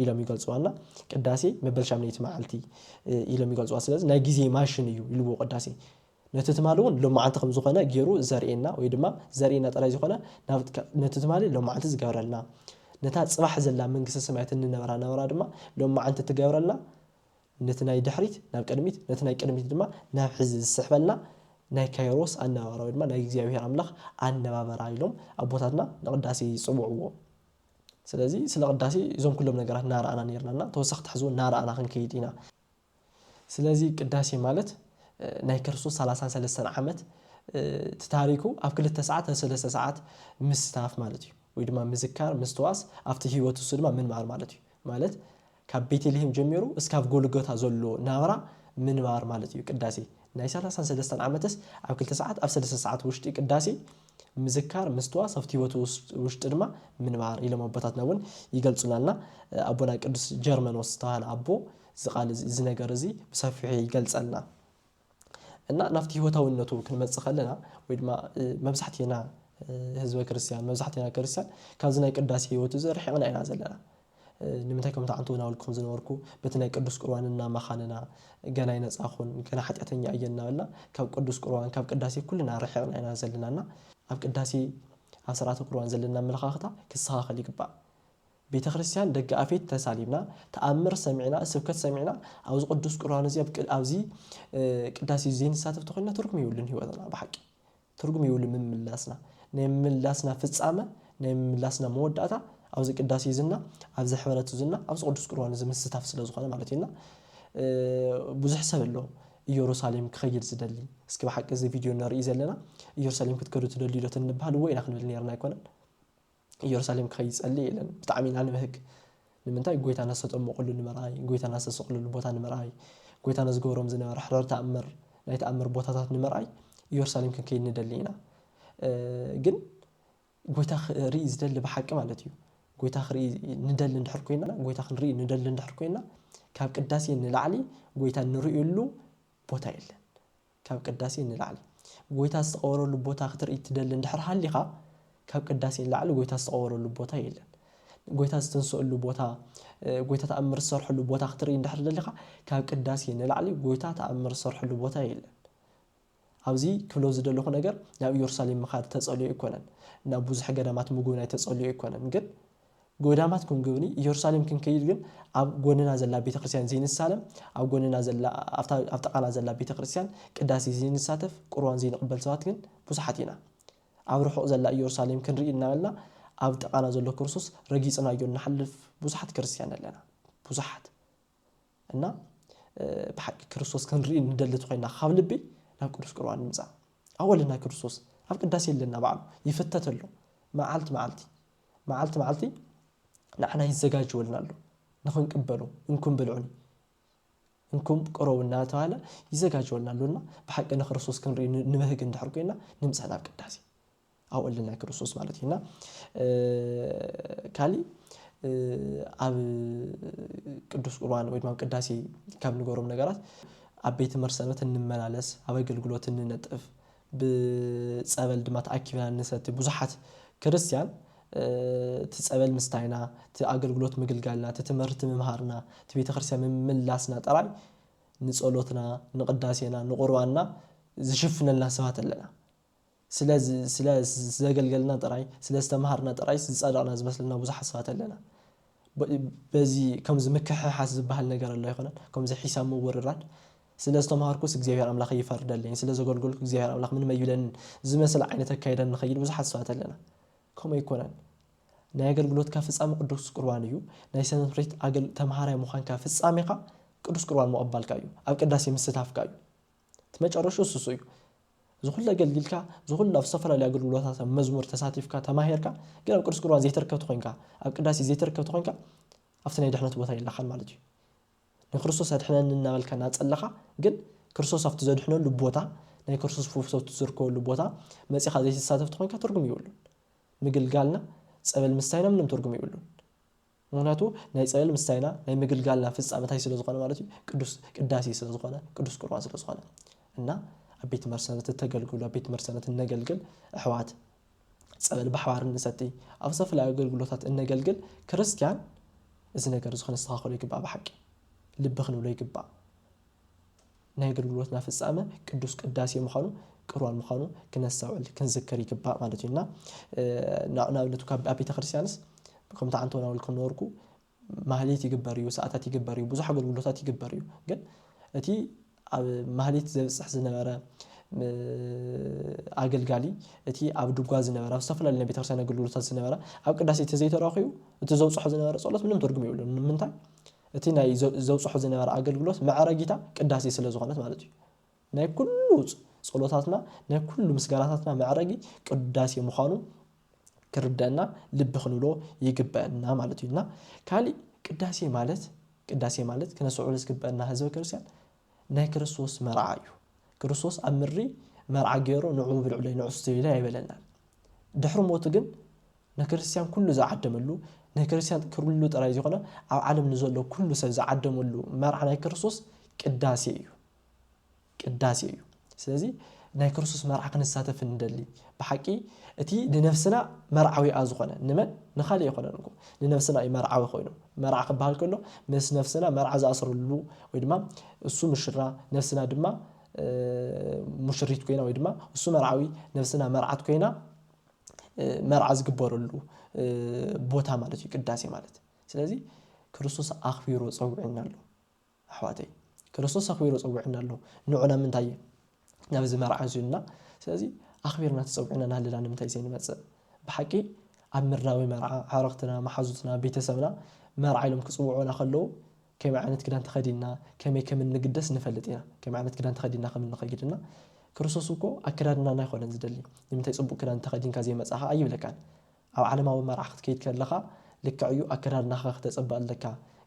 ኢሎም ይገልፅዋና ቅዳሴ መበል ሻምነይቲ መዓልቲ ኢሎም ይገልፅዋ ስለዚ ናይ ግዜ ማሽን እዩ ይልዎ ቅዳሴ ነቲ ትማሊ እውን ሎማዓንቲ ከም ዝኾነ ገይሩ ዘርእየና ወይ ድማ ዘርእየና ጥራይ ዘይኮነ ናብ ነቲ ትማሊ ሎማዓንቲ ዝገብረልና ነታ ፅባሕ ዘላ መንግስተ ሰማያት እንነብራ ናብራ ድማ ሎማዓንቲ እትገብረልና ነቲ ናይ ድሕሪት ናብ ቅድሚት ነቲ ናይ ቅድሚት ድማ ናብ ሕዚ ዝስሕበልና ናይ ካይሮስ ኣነባብራ ወይ ድማ ናይ እግዚኣብሔር ኣምላኽ ኣነባብራ ኢሎም ኣቦታትና ንቅዳሴ ይፅውዕዎ። ስለዚ ስለ ቅዳሴ እዞም ኩሎም ነገራት እናረኣና ነይርና እና ተወሳኺ ትሕዝዎ እናረኣና ክንከይድ ኢና። ስለዚ ቅዳሴ ማለት ናይ ክርስቶስ ሰላሳን ሰለስተን ዓመት እቲ ታሪኩ ኣብ ክልተ ሰዓት ኣብ ሰለስተ ሰዓት ምስታፍ ማለት እዩ ወይ ድማ ምዝካር ምስትዋስ ኣብቲ ህይወት እሱ ድማ ምንባር ማለት እዩ ማለት ካብ ቤተልሄም ጀሚሩ እስካብ ጎልጎታ ዘሎ ናብራ ምንባር ማለት እዩ ቅዳሴ ናይ ሰላሳን ሰለስተን ዓመትስ ኣብ ክልተ ሰዓት ኣብ ሰለስተ ሰዓት ውሽጢ ቅዳሴ ምዝካር ምስትዋስ ኣብቲ ህይወት ውሽጢ ድማ ምንባር ኢሎም ኣቦታትና እውን ይገልጹናልና ኣቦና ቅዱስ ጀርመኖስ ዝተባሃለ ኣቦ እዚ ቃል እዚ እዚ ነገር እዚ ብሰፊሑ ይገልጸልና እና ናብቲ ህይወታዊነቱ ክንመጽእ ከለና ወይ ድማ መብዛሕትኤና ህዝበ ክርስትያን መብዛሕትኤና ክርስትያን ካብዚ ናይ ቅዳሴ ህይወት እዚ ርሒቕና ኢና ዘለና ንምንታይ ከምቲ ዓንተ እውን ኣውልኩም ዝነበርኩ በቲ ናይ ቅዱስ ቁርባን እናመኻንና ገና ይነፃኹን ገና ሓጢኣተኛ እየ እናበልና ካብ ቅዱስ ቁርባን ካብ ቅዳሴ ኩልና ርሕቕና ኢና ዘለና እና ኣብ ቅዳሴ ኣብ ስርዓተ ቁርባን ዘለና ኣመለኻኽታ ክስተኻኸል ይግባእ ቤተክርስትያን ደገኣፌት ተሳሊምና ተኣምር ሰሚዕና ስብከት ሰሚዕና ኣብዚ ቅዱስ ቁርባን እዚ ኣብዚ ቅዳሴ እዚ ዘይንሳተፍ ተኾይንና ትርጉም የብሉን ህይወትና ብሓቂ ትርጉም የብሉን ምምላስና ናይ ምምላስና ፍጻመ ናይ ምምላስና መወዳእታ ኣብዚ ቅዳሴ እዚ እና ኣብዚ ሕብረት እዚ እና ኣብዚ ቅዱስ ቁርባን እዚ ምስታፍ ስለ ዝኾነ ማለት እዩና ብዙሕ ሰብ ኣሎ ኢየሩሳሌም ክኸይድ ዝደሊ እስኪ ብሓቂ እዚ ቪድዮ ንርኢ ዘለና ኢየሩሳሌም ክትከዱ ትደልዩ ዶ ትንበሃል እወ ኢና ክንብል ነርና ኣይኮነን እየሩሳሌም ክኸይድ ጸልየ ኢለን ብጣዕሚ ኢና ንብህግ ንምንታይ ጎይታና ዝተጠመቁሉ ንምርኣይ ጎይታና ዝተሰቅልሉ ቦታ ንምርኣይ ጎይታና ዝገብሮም ዝነበረ ሕረር ተኣምር ናይ ተኣምር ቦታታት ንምርኣይ እየሩሳሌም ክንከይድ ንደሊ ኢና ግን ጎይታ ክርኢ ዝደሊ ብሓቂ ማለት እዩ ጎይታ ክርኢ ንደሊ እንድሕር ኮይና ጎይታ ክንርኢ ንደሊ እንድሕር ኮይና ካብ ቅዳሴ ንላዕሊ ጎይታ እንርእየሉ ቦታ የለን ካብ ቅዳሴ ንላዕሊ ጐይታ ዝተቐበረሉ ቦታ ክትርኢ ትደሊ እንድሕር ሃሊኻ፣ ካብ ቅዳሴ ንላዕሊ ጐይታ ዝተቐበረሉ ቦታ የለን። ጐይታ ዝተንስኣሉ ቦታ፣ ጐይታ ተኣምር ዝሰርሐሉ ቦታ ክትርኢ እንድሕር ደሊኻ፣ ካብ ቅዳሴ ንላዕሊ ጐይታ ተኣምር ዝሰርሐሉ ቦታ የለን። ኣብዚ ክብሎ ዝደለኹ ነገር ናብ ኢየሩሳሌም ምኻድ ተጸልዮ ኣይኮነን፣ ናብ ብዙሕ ገዳማት ምጉብናይ ተጸልዮ ኣይኮነን፣ ግን ገዳማት ክንግብኒ ኢየሩሳሌም ክንከይድ ግን ኣብ ጎንና ዘላ ቤተ ክርስትያን ዘይንሳለም ኣብ ጎንና ዘላ ኣብታ ኣብ ጥቃና ዘላ ቤተ ክርስትያን ቅዳሴ ዘይንሳተፍ ቁርባን ዘይንቅበል ሰባት ግን ብዙሓት ኢና ኣብ ርሑቅ ዘላ ኢየሩሳሌም ክንርኢ እናበልና ኣብ ጥቃና ዘሎ ክርስቶስ ረጊጽናዮ እንሓልፍ ብዙሓት ክርስትያን ኣለና ብዙሓት እና ብሓቂ ክርስቶስ ክንርኢ ንደሊ ኮይና ካብ ልቢ ናብ ቅዱስ ቁርባን ንምጻእ ኣወልና ክርስቶስ ኣብ ቅዳሴ ኣለና ባዕሉ ይፍተት ኣሎ መዓልቲ መዓልቲ መዓልቲ መዓልቲ ንዓና ይዘጋጀወልና ኣሎ ንኽንቅበሎ እንኩም ብልዑኒ እንኩም ቅረቡ እናተባህለ ይዘጋጀወልና ኣሎ እና ብሓቂ ንክርስቶስ ክንርኢ ንበህግ እንድሕር ኮይና ንምፃእ ናብ ቅዳሴ ኣብኡ ኣለና ክርስቶስ ማለት እዩ እና ካሊእ ኣብ ቅዱስ ቁርባን ወይ ድማ ቅዳሴ ካብ ንገሮም ነገራት ኣብ ቤተ መርሰበት እንመላለስ ኣብ ኣገልግሎት እንነጥፍ ብጸበል ድማ ተኣኪብና ንሰቲ። ብዙሓት ክርስትያን እቲ ጸበል ምስታይና፣ እቲ ኣገልግሎት ምግልጋልና፣ እቲ ትምህርቲ ምምሃርና፣ እቲ ቤተ ክርስትያን ምምላስና ጥራይ ንጸሎትና፣ ንቅዳሴና፣ ንቁርባንና ዝሽፍነልና ሰባት ኣለና። ስለ ስለ ዘገልገልና ጥራይ፣ ስለ ዝተምሃርና ጥራይስ ዝጸደቕና ዝመስለና ብዙሓት ሰባት ኣለና። በዚ ከምዚ ምክሕሓስ ዝበሃል ነገር ኣሎ ኣይኮነን? ከምዚ ሒሳብ ምውርራድ ስለ ዝተማሃርኩስ እግዚኣብሄር ኣምላኽ ይፈርደለይን ስለ ዘገልገልኩ እግዚኣብሄር ኣምላኽ ምንም ኣይብለንን ዝመስል ዓይነት ኣካይዳ እንኸይድ ብዙሓት ሰባት ኣለና። ከምኡ ኣይኮነን። ናይ ኣገልግሎትካ ፍጻሜ ቅዱስ ቁርባን እዩ። ናይ ሰንብሬት ኣገል ተማሃራይ ምዃንካ ፍጻሜኻ ቅዱስ ቁርባን ምቕባልካ እዩ። ኣብ ቅዳሴ ምስታፍካ እዩ። እቲ መጨረሽኡ ስሱ እዩ። እዚ ኩሉ ኣገልጊልካ እዚ ኩሉ ኣብ ዝተፈላለዩ ኣገልግሎታት ኣብ መዝሙር ተሳቲፍካ ተማሂርካ ግን ኣብ ቅዱስ ቁርባን ዘይተርከብቲ ኮንካ ኣብ ቅዳሴ ዘይተርከብቲ ኮንካ ኣብቲ ናይ ድሕነት ቦታ የላኻን ማለት እዩ። ንክርስቶስ ኣድሕነኒ እናበልካ እናጸለኻ ግን ክርስቶስ ኣብቲ ዘድሕነሉ ቦታ ናይ ክርስቶስ ፈውሰቱ ዝርከበሉ ቦታ መጺኻ ዘይትሳተፍ ተኾይንካ ትርጉም የብሉን። ምግልጋልና ጸበል ምስታይና ምንም ትርጉም የብሉን። ምክንያቱ ናይ ጸበል ምስታይና ናይ ምግልጋልና ፍጻመ ታይ ስለ ዝኾነ ማለት እዩ ቅዱስ ቅዳሴ ስለ ዝኾነ ቅዱስ ቁርባን ስለ ዝኾነ እና ኣብ ቤት መርሰነት እተገልግሉ ኣብ ቤት መርሰነት እነገልግል ኣሕዋት ጸበል ብሓባር እንሰቲ፣ ኣብ ዝተፈላለዩ ኣገልግሎታት እነገልግል ክርስትያን እዚ ነገር እዚ ከነስተኻኸሎ ይግባእ ብሓቂ ልቢ ክንብሎ ይግባእ። ናይ ኣገልግሎትና ፍጻመ ቅዱስ ቅዳሴ ምዃኑ ቅርዋን ምዃኑ ክነስተውዕል ክንዝክር ይግባእ ማለት እዩ እና ንኣብነት ካብ ኣብ ቤተ ክርስቲያንስ ከምቲ ዓንተውናውል ክነበርኩ ማህሌት ይግበር እዩ፣ ሰዓታት ይግበር እዩ፣ ብዙሕ ኣገልግሎታት ይግበር እዩ። ግን እቲ ኣብ ማህሌት ዘብጽሕ ዝነበረ ኣገልጋሊ፣ እቲ ኣብ ድጓ ዝነበረ፣ ኣብ ዝተፈላለዩ ናይ ቤተክርስትያን ኣገልግሎታት ዝነበረ፣ ኣብ ቅዳሴ ተዘይተረኺቡ እቲ ዘብጽሖ ዝነበረ ጸሎት ምንም ትርጉም የብሉን። ንምንታይ? እቲ ናይ ዘብጽሖ ዝነበረ ኣገልግሎት መዕረጊታ ቅዳሴ ስለ ዝኾነት ማለት እዩ። ናይ ኩሉ ጸሎታትና ናይ ኩሉ ምስጋናታትና መዕረጊ ቅዳሴ ምዃኑ ክርደእና ልቢ ክንብሎ ይግበእና ማለት እዩ እና ካሊእ ቅዳሴ ማለት ቅዳሴ ማለት ክነስዕሉ ዝግበእና ህዝበ ክርስቲያን ናይ ክርስቶስ መርዓ እዩ ክርስቶስ ኣብ ምድሪ መርዓ ገይሩ ንዑ ብልዕለይ ንዑ ስተይለይ ኣይበለናን ድሕሪ ሞቱ ግን ንክርስትያን ኩሉ ዝዓደመሉ ናይ ክርስትያን ክሉ ጥራይ ዝኾነ ኣብ ዓለም ንዘሎ ኩሉ ሰብ ዝዓደመሉ መርዓ ናይ ክርስቶስ ቅዳሴ እዩ ቅዳሴ እዩ። ስለዚ ናይ ክርስቶስ መርዓ ክንሳተፍ እንደሊ ብሓቂ እቲ ንነፍስና መርዓዊኣ ዝኾነ ንመን ንኻልእ ኣይኮነን እኮ ንነፍስና እዩ መርዓዊ ኮይኑ መርዓ ክበሃል ከሎ ምስ ነፍስና መርዓ ዝኣስረሉ ወይ ድማ እሱ ምሽራ ነፍስና ድማ ሙሽሪት ኮይና ወይ ድማ እሱ መርዓዊ ነፍስና መርዓት ኮይና መርዓ ዝግበረሉ ቦታ ማለት እዩ ቅዳሴ ማለት ስለዚ ክርስቶስ ኣኽቢሩ ፀዊዑና ኣሎ። ኣሕዋተይ ክርስቶስ ኣኽቢሩ ጸዊዑና ኣሎ ንዑ ናብ ምንታይ ናብዚ መርዓ እዚ ኢሉና ስለዚ ኣኽቢርና ተጸዊዕና ናሃለና ንምንታይ ዘይንመጽእ ብሓቂ ኣብ ምድራዊ መርዓ ኣዕርኽትና መሓዙትና ቤተሰብና መርዓ ኢሎም ክጽውዑና ከለዉ ከመይ ዓይነት ክዳን ተኸዲንና ከመይ ከም እንግደስ ንፈልጥ ኢና ከመይ ዓይነት ክዳን ተኸዲንና ከም እንኸይድ እና ክርስቶስ እኮ ኣከዳድናና ኣይኮነን ዝደሊ ንምንታይ ጽቡቕ ክዳን ተኸዲንካ ዘይመጻኻ ኣይብለካን ኣብ ዓለማዊ መርዓ ክትከይድ ከለኻ ልክዕ እዩ ኣከዳድናኻ ክተጸብቅ ኣለካ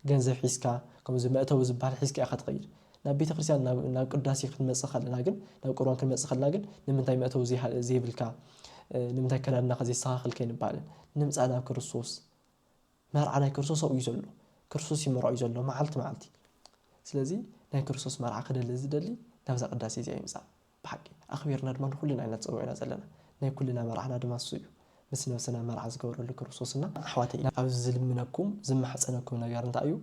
ገንዘብ ሒዝካ ከምዚ መእተዊ ዝብሃል ሒዝካ ኢኻ ትኸይድ ናብ ቤተክርስትያን ናብ ናብ ቅዳሴ ክትመጽእ ከለና ግን ናብ ቁርባን ክንመጽእ ከለና ግን ንምንታይ መእተዊ ዘይብልካ ንምንታይ ኣከዳድናኻ ዘይስተኻኽል ከይንብሃል ንምጻእ ናብ ክርስቶስ መርዓ ናይ ክርስቶስ ኣብኡ እዩ ዘሎ ክርስቶስ እዩ መርዑ እዩ ዘሎ መዓልቲ መዓልቲ ስለዚ ናይ ክርስቶስ መርዓ ክደሊ ዝደሊ ናብዛ ቅዳሴ እዚኣ ይምጻእ ብሓቂ ኣኽቢርና ድማ ንኹልና ኢና ተጸዊዕና ዘለና። ናይ ኩልና መርዓና ድማ ንሱ እዩ። ምስ ነብስና መርዓ ዝገብረሉ ክርስቶስና። ኣሕዋተይ ኣብዚ ዝልምነኩም ዝማሕጸነኩም ነገር እንታይ እዩ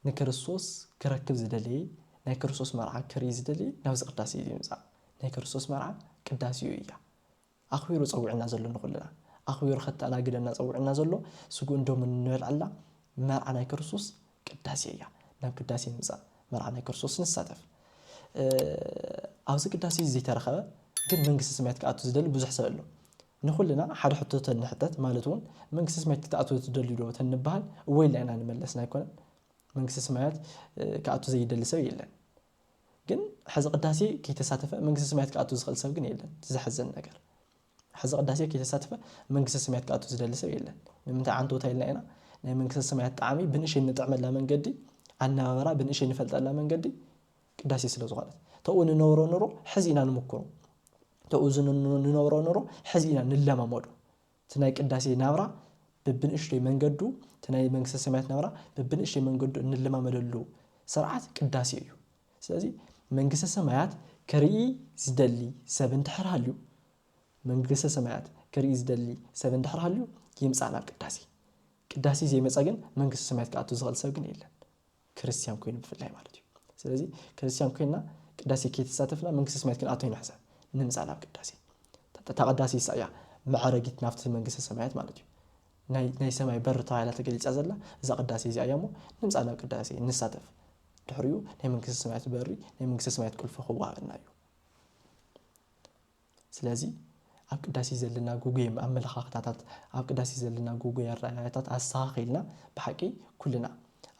ንክርስቶስ ክረክብ ዝደለየ ናይ ክርስቶስ መርዓ ክርኢ ዝደለየ ናብዚ ቅዳሴ እዚ ይምጻእ ናይ ክርስቶስ መርዓ ቅዳሴኡ እያ ኣኽቢሩ ጸዊዑና ዘሎ ንኹልና ኣኽቢሩ ከተኣናግደና ጸዊዑና ዘሎ ስግኡን ደሙን እንበልዐላ መርዓ ናይ ክርስቶስ ቅዳሴ እያ። ናብ ቅዳሴ ንምጻእ መርዓ ናይ ክርስቶስ ንሳተፍ። ኣብዚ ቅዳሴ እዚ ዘይተረኸበ ግን መንግስቲ ሰማያት ክኣቱ ዝደሊ ብዙሕ ሰብ ኣሎ። ንኹልና ሓደ ሕቶ ተንሕተት ማለት እውን መንግስቲ ሰማያት ክትኣትው ትደልዩ ዶ ተንበሃል እወ ኢልና ኢና ንመለስ ኣይኮነን። መንግስቲ ሰማያት ክኣቱ ዘይደሊ ሰብ የለን። ግን ሐዚ ቅዳሴ ከይተሳተፈ መንግስተ ሰማያት ክኣቱ ዝኽእል ሰብ ግን የለን እቲ ዘሕዝን ነገር ሐዚ ቅዳሴ ከይተሳተፈ መንግስተ ሰማያት ክኣቱ ዝደሊ ሰብ የለን ንምንታይ ዓንተውታ ኢልና ኢና ናይ መንግስተ ሰማያት ጣዕሚ ብንእሸይ እንጥዕመላ መንገዲ ኣነባበራ ብንእሸይ ንፈልጠላ መንገዲ ቅዳሴ ስለ ዝኾነት ተኡ ንነብሮ ኑሮ ሕዚ ኢና ንምክሮ ተኡ ንነብሮ ኑሮ ሕዚ ኢና ንለማመዶ እቲ ናይ ቅዳሴ ናብራ በብንእሽቶይ መንገዱ፣ እቲ ናይ መንግስተ ሰማያት ናብራ በብንእሽተይ መንገዱ እንለማመደሉ ስርዓት ቅዳሴ እዩ። ስለዚ መንግስተ ሰማያት ክርኢ ዝደሊ ሰብ እንድሕር ሃልዩ፣ መንግስተ ሰማያት ክርኢ ዝደሊ ሰብ እንድሕር ሃልዩ ይምጻእ ናብ ቅዳሴ። ቅዳሴ ዘይመጸ ግን መንግስተ ሰማያት ክኣቱ ዝኽእል ሰብ ግን የለን። ክርስትያን ኮይኑ ብፍላይ ማለት እዩ ስለዚ ክርስትያን ኮይና ቅዳሴ ከይተሳተፍና መንግስተ ሰማያት ክንኣቶ ኢና ሕሰብ ንምፃእ ናብ ቅዳሴ እታ ቅዳሴ ይሳ እያ መዕረጊት ናብቲ መንግስተ ሰማያት ማለት እዩ ናይ ሰማይ በር ተባሂላ ተገሊፃ ዘላ እዛ ቅዳሴ እዚኣ እያ እሞ ንምፃእ ናብ ቅዳሴ ንሳተፍ ድሕሪኡ ናይ መንግስተ ሰማያት በሪ ናይ መንግስተ ሰማያት ቁልፊ ክወሃበና እዩ ስለዚ ኣብ ቅዳሴ ዘለና ጉጉየ ኣመለኻኽታታት፣ ኣብ ቅዳሴ ዘለና ጉጉየ ኣረኣእያታት ኣስተኻኺልና ብሓቂ ኩልና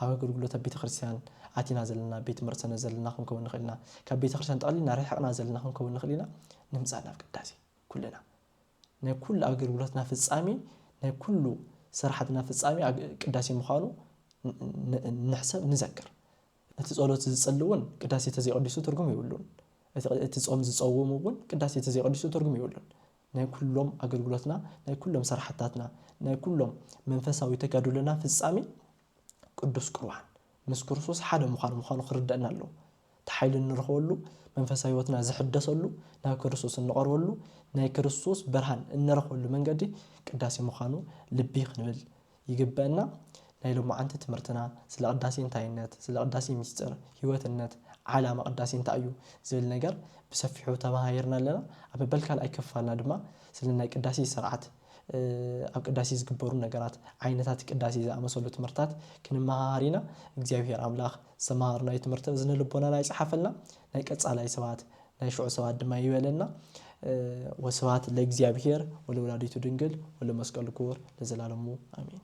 ኣብ ኣገልግሎት ኣብ ቤተክርስትያን ኣቲና ዘለና ቤት መርሰነ ዘለና ክንከውን ንኽእል ኢና። ካብ ቤተክርስትያን ጠቕሊልና ርሒቕና ዘለና ክንከውን ንኽእል ኢና። ንምጻእ ናብ ቅዳሴ ኩልና ናይ ኩሉ ኣገልግሎትና ፍጻሜ ናይ ኩሉ ስራሓትና ፍጻሜ ቅዳሴ ምዃኑ ንሕሰብ ንዘክር። እቲ ጸሎት ዝጽሊ እውን ቅዳሴ ተዘይቐዲሱ ትርጉም የብሉን። እቲ እቲ ጾም ዝጸውም እውን ቅዳሴ ተዘይቐዲሱ ትርጉም የብሉን። ናይ ኩሎም ኣገልግሎትና፣ ናይ ኩሎም ስራሕታትና፣ ናይ ኩሎም መንፈሳዊ ተጋድሎና ፍጻሜ ቅዱስ ቁርባን ምስ ክርስቶስ ሓደ ምዃን ምዃኑ ክርደእና ኣለዎ። እቲ ሓይሊ እንረኽበሉ፣ መንፈሳዊ ሕይወትና ዝሕደሰሉ፣ ናብ ክርስቶስ እንቐርበሉ፣ ናይ ክርስቶስ ብርሃን እንረኽበሉ መንገዲ ቅዳሴ ምዃኑ ልቢ ክንብል ይግበእና ናይ ሎማዓንቲ ትምህርትና ስለ ቅዳሴ እንታይነት ስለ ቅዳሴ ሚስጥር ሂወትነት ዓላማ ቅዳሴ እንታይ እዩ ዝብል ነገር ብሰፊሑ ተማሃሂርና ኣለና ኣብ መበል ካልኣይ ክፋልና ድማ ስለ ናይ ቅዳሴ ስርዓት ኣብ ቅዳሴ ዝግበሩ ነገራት ዓይነታት ቅዳሴ ዝኣመሰሉ ትምህርታት ክንመሃሃር ኢና እግዚኣብሄር ኣምላኽ ዝተማሃርናዮ ትምህርቲ እዝነ ልቦናና ይጽሓፈልና ናይ ቀጻላይ ሰባት ናይ ሽዑ ሰባት ድማ ይበለና ወስብሐት ለእግዚኣብሔር ወለወላዲቱ ድንግል ወለመስቀሉ ክቡር ለዘላለሙ ኣሜን።